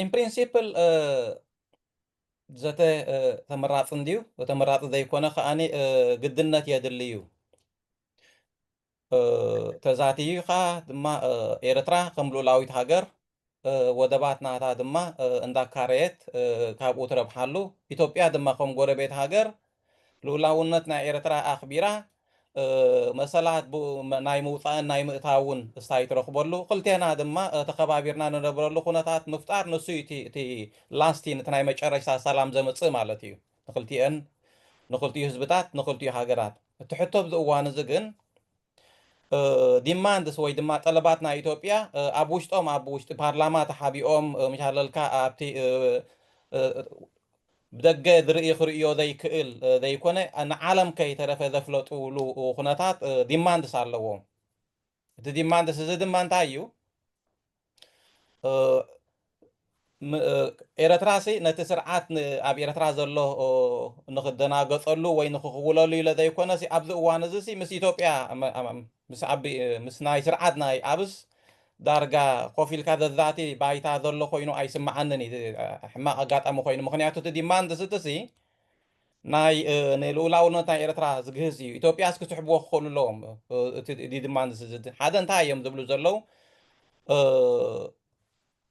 ኢን ፕሪንሲፕል ዘተ ተመራጺ እንድዩ ተመራጺ ዘይኮነ ከኣ ግድነት የድሊ እዩ። ተዛቲይካ ድማ ኤርትራ ከም ሉኡላዊት ሃገር ወደባት ናታ ድማ እንዳካረየት ካብኡ ትረብሓሉ ኢትዮጵያ ድማ ከም ጎረቤት ሃገር ሉኡላውነት ናይ ኤርትራ ኣኽቢራ መሰላት ብ ናይ ምውጻእን ናይ ምእታውን እስታይ ትረኽበሉ ክልቴና ድማ ተኸባቢርና ንነብረሉ ኩነታት ምፍጣር ንሱ እዩ እቲ እቲ ላስቲን እቲ ናይ መጨረሽታ ሰላም ዘምጽእ ማለት እዩ። ንክልቲኤን ንክልቲኡ ህዝብታት ንክልቲኡ ሃገራት እቲ ሕቶ ኣብዚ እዋን እዚ ግን ዲማንድስ ወይ ድማ ጠለባት ናይ ኢትዮጵያ ኣብ ውሽጦም ኣብ ውሽጢ ፓርላማ ተሓቢኦም ምሻለልካ ኣብቲ ብደገ ዝርኢ ክርእዮ ዘይክእል ዘይኮነ ንዓለም ከይተረፈ ዘፍለጡሉ ኩነታት ዲማንድስ ኣለዎም እቲ ዲማንድስ እዚ ድማ እንታይ እዩ ኤረትራ ሲ ነቲ ስርዓት ኣብ ኤረትራ ዘሎ ንክደናገጸሉ ወይ ንክኽውለሉ ኢለ ዘይኮነ ሲ ኣብዚ እዋን እዚ ሲ ምስ ኢትዮጵያ ምስ ኣቢ ምስ ናይ ስርዓት ናይ ኣብስ ዳርጋ ኮፍ ኢልካ ዘዛቲ ባይታ ዘሎ ኮይኑ ኣይስምዓንን እዩ ሕማቕ ኣጋጣሚ ኮይኑ ምክንያቱ እቲ ዲማንድ ስቲ ሲ ናይ ንልኡላውነት ናይ ኤርትራ ዝግህስ እዩ ኢትዮጵያስ ክስሕብዎ ክኽእሉ ኣለዎም እቲ ድማ ሓደ እንታይ እዮም ዝብሉ ዘለው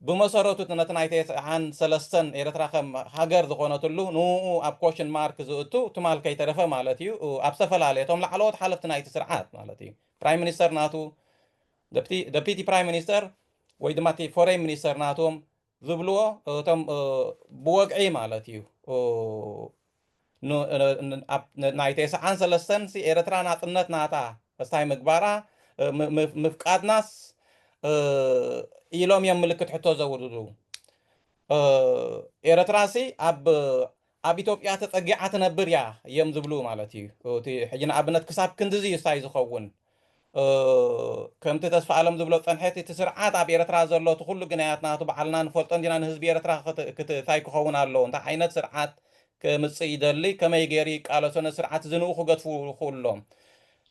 ብመሰረቱ ነቲ ናይ ተስዓን ሰለስተን ኤርትራ ከም ሃገር ዝኾነትሉ ንኡ ኣብ ኮሽን ማርክ ዝእቱ ትማል ከይተረፈ ማለት እዩ ኣብ ዝተፈላለየ እቶም ላዕለዎት ሓለፍቲ ናይቲ ስርዓት ማለት እዩ ፕራይም ሚኒስተር ናቱ ደፒቲ ፕራይም ሚኒስተር ወይ ድማ እቲ ፎሬን ሚኒስተር ናቶም ዝብልዎ እቶም ብወግዒ ማለት እዩ ናይ ቴስዓን ሰለስተን ኤርትራ ናፅነት ናታ እስታይ ምግባራ ምፍቃድናስ ኢሎም እዮም ምልክት ሕቶ ዘውርዱ ኤርትራ ሲ ኣብ ኣብ ኢትዮጵያ ተጸጊዓ ትነብር እያ እዮም ዝብሉ ማለት እዩ እቲ ሕጂ ንኣብነት ክሳብ ክንድዚ እዩ ሳይ ዝኸውን ከምቲ ተስፋኣለም ዝብሎ ጸንሐቲ እቲ ስርዓት ኣብ ኤረትራ ዘሎ እቲ ኩሉ ግናያት ናቱ ባዕልና ንፈልጦ እንዲና ንህዝቢ ኤረትራ ክት ታይ ክኸውን ኣለዎ እንታይ ዓይነት ስርዓት ክምጽእ ይደሊ ከመይ ገይሩ ይቃለሶ ነዚ ስርዓት እዚ ንኡ ክገድፉ ይኽእሉ ኣሎም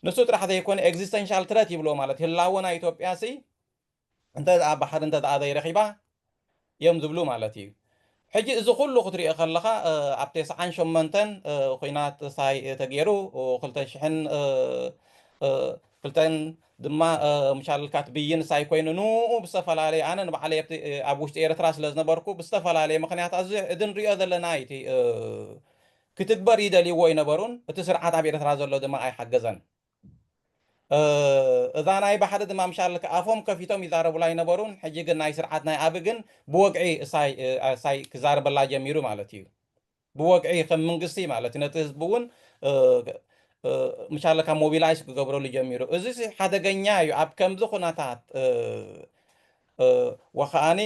ንሱ ጥራሕ ዘይኮነ ኤግዚስተንሻል ትረት ይብልዎ ማለት ህላወ ናይ ኢትዮጵያ ሲ እንተ ደኣ ባሕሪ እንተ ደኣ ዘይረኺባ እዮም ዝብሉ ማለት እዩ። ሕጂ እዚ ኩሉ ክትሪኦ ከለኻ ኣብ ቴስዓን ሸሞንተን ኹናት ሳይ ተጌሩ ክልተ ሽሕን ክልተን ድማ ምሻልካት ብይን ሳይ ኮይኑ ንኡ ብዝተፈላለየ ኣነ ንባዕለይ ኣብ ውሽጢ ኤርትራ ስለ ዝነበርኩ ብዝተፈላለየ ምክንያት ኣዚ እዚ ንሪኦ ዘለና እዩ እቲ ክትግበር ይደልይዎ ኣይነበሩን እቲ ስርዓት ኣብ ኤርትራ ዘሎ ድማ ኣይሓገዘን። እዛ ናይ ባሕሪ ድማ ምሻልክ ኣፎም ከፊቶም ይዛረቡላ ኣይነበሩን ሕጂ ግን ናይ ስርዓት ናይ ኣቢ ግን ብወግዒ እሳይ ክዛረበላ ጀሚሩ ማለት እዩ ብወግዒ ከም መንግስቲ ማለት ነቲ ህዝቢ እውን ምሻለ ካብ ሞቢላይዝ ክገብረሉ ጀሚሩ እዚ ሓደገኛ እዩ ኣብ ከምዚ ኩነታት ወኸኣኒ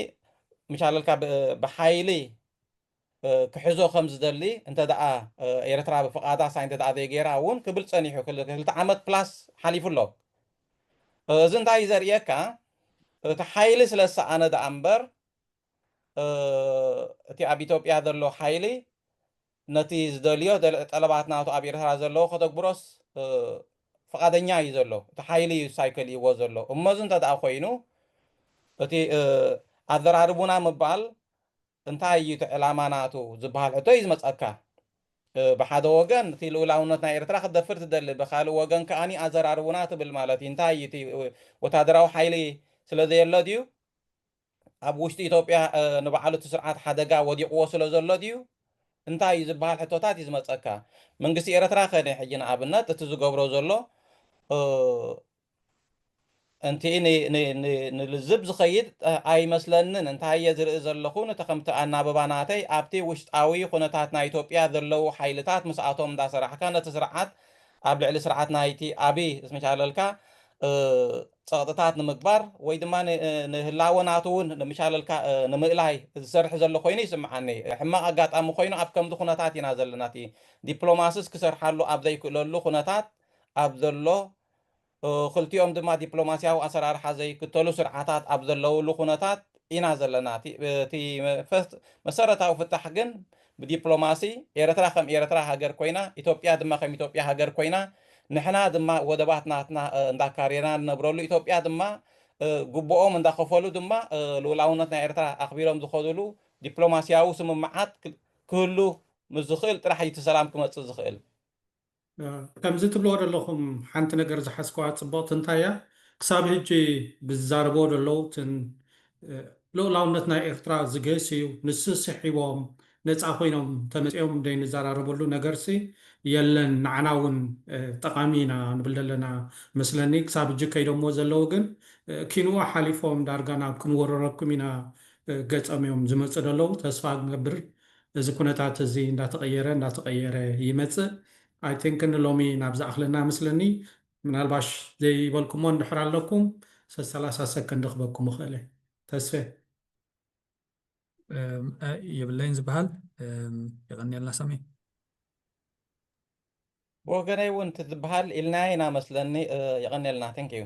ምሻለልካ ብሓይሊ ክሕዞ ከም ዝደሊ እንተ ደኣ ኤርትራ ብፍቓዳ ኣሳይ እንተ ደኣ ዘይገይራ እውን ክብል ጸኒሑ ክልተ ዓመት ፕላስ ሓሊፉ ኣሎ። እዚ እንታይ እዩ ዘርእየካ እቲ ሓይሊ ስለ ዝሰኣነ ደኣ እምበር እቲ ኣብ ኢትዮጵያ ዘሎ ሓይሊ ነቲ ዝደልዮ ጠለባት ናቱ ኣብ ኤርትራ ዘለዎ ከተግብሮስ ፍቓደኛ እዩ ዘሎ እቲ ሓይሊ እዩ ሳይ ከልይዎ ዘሎ እሞ እዚ እንተ ደኣ ኮይኑ እቲ ኣዘራርቡና ምባል እንታይ እዩ እቲ ዕላማ ናቱ ዝበሃል ሕቶ እዩ ዝመጸካ። ብሓደ ወገን እቲ ልኡላውነት ናይ ኤርትራ ክትደፍር ትደሊ፣ ብካልእ ወገን ከኣ ኣዘራርቡና ትብል ማለት እዩ። እንታይ እዩ እቲ ወተሃደራዊ ሓይሊ ስለ ዘየሎ ድዩ? ኣብ ውሽጢ ኢትዮጵያ ንባዕሉ እቲ ስርዓት ሓደጋ ወዲቕዎ ስለ ዘሎ ድዩ? እንታይ እዩ ዝበሃል ሕቶታት እዩ ዝመጸካ። መንግስቲ ኤርትራ ከ ናይ ሕጂ ንኣብነት እቲ ዝገብሮ ዘሎ እንቲ ንልዝብ ዝኸይድ ኣይመስለንን እንታይ እየ ዝርኢ ዘለኹ ንቲ ከምቲ ኣናብባ ናተይ ኣብቲ ውሽጣዊ ኹነታት ናይ ኢትዮጵያ ዘለው ሓይልታት ምስኣቶም እንዳሰራሕካ ነቲ ስርዓት ኣብ ልዕሊ ስርዓት ናይቲ ኣብይ ዝመቻለልካ ፀቕጥታት ንምግባር ወይ ድማ ንህላወ ናቱ እውን ንምቻለልካ ንምእላይ ዝሰርሕ ዘሎ ኮይኑ ይስምዓኒ ሕማቕ ኣጋጣሚ ኮይኑ ኣብ ከምዚ ኩነታት ኢና ዘለና እቲ ዲፕሎማስስ ክሰርሓሉ ኣብ ዘይክእለሉ ኩነታት ኣብ ዘሎ ክልቲኦም ድማ ዲፕሎማሲያዊ ኣሰራርሓ ዘይክተሉ ስርዓታት ኣብ ዘለውሉ ኩነታት ኢና ዘለና። እቲ መሰረታዊ ፍታሕ ግን ብዲፕሎማሲ፣ ኤርትራ ከም ኤርትራ ሃገር ኮይና፣ ኢትዮጵያ ድማ ከም ኢትዮጵያ ሃገር ኮይና፣ ንሕና ድማ ወደባት ናትና እንዳካረና ንነብረሉ፣ ኢትዮጵያ ድማ ግቡኦም እንዳኸፈሉ ድማ ልኡላውነት ናይ ኤርትራ ኣኽቢሮም ዝኸዱሉ ዲፕሎማሲያዊ ስምምዓት ክህሉ ምስ ዝኽእል ጥራሕ እዩ እቲ ሰላም ክመጽእ ዝኽእል። ከምዚ ትብልዎ ደለኹም ሓንቲ ነገር ዝሓዝክዋ ጽብቕቲ እንታይ እያ ክሳብ ሕጂ ብዝዛረብዎ ደለዉ እትን ልኡላውነት ናይ ኤርትራ ዝግህስ እዩ ንሱ ስሒቦም ነጻ ኮይኖም ተመጺኦም ደይ ንዛራረበሉ ነገርሲ የለን ንዓና ውን ጠቓሚ ኢና ንብል ደለና መስለኒ ክሳብ ሕጂ ከይዶምዎ ዘለዉ ግን ኪንኡ ሓሊፎም ዳርጋ ናብ ክንውርረኩም ኢና ገጸም እዮም ዝመጹ ደለዉ ተስፋ ንገብር እዚ ኩነታት እዚ እንዳተቐየረ እንዳተቐየረ ይመጽእ ኣይ ቲንክ ንሎሚ ናብ ዝኣኽለና እመስለኒ ምናልባሽ ዘይበልኩሞ እንድሕር ኣለኩም ሰሰላሳ ሰከንድ ክበኩም እኽእለ ተስፌ። የብለይን ዝብሃል የቐንየልና ሳሚ። ብወገነይ ውን ትዝብሃል ኢልናያ ኢና መስለኒ የቐንየልና thank you።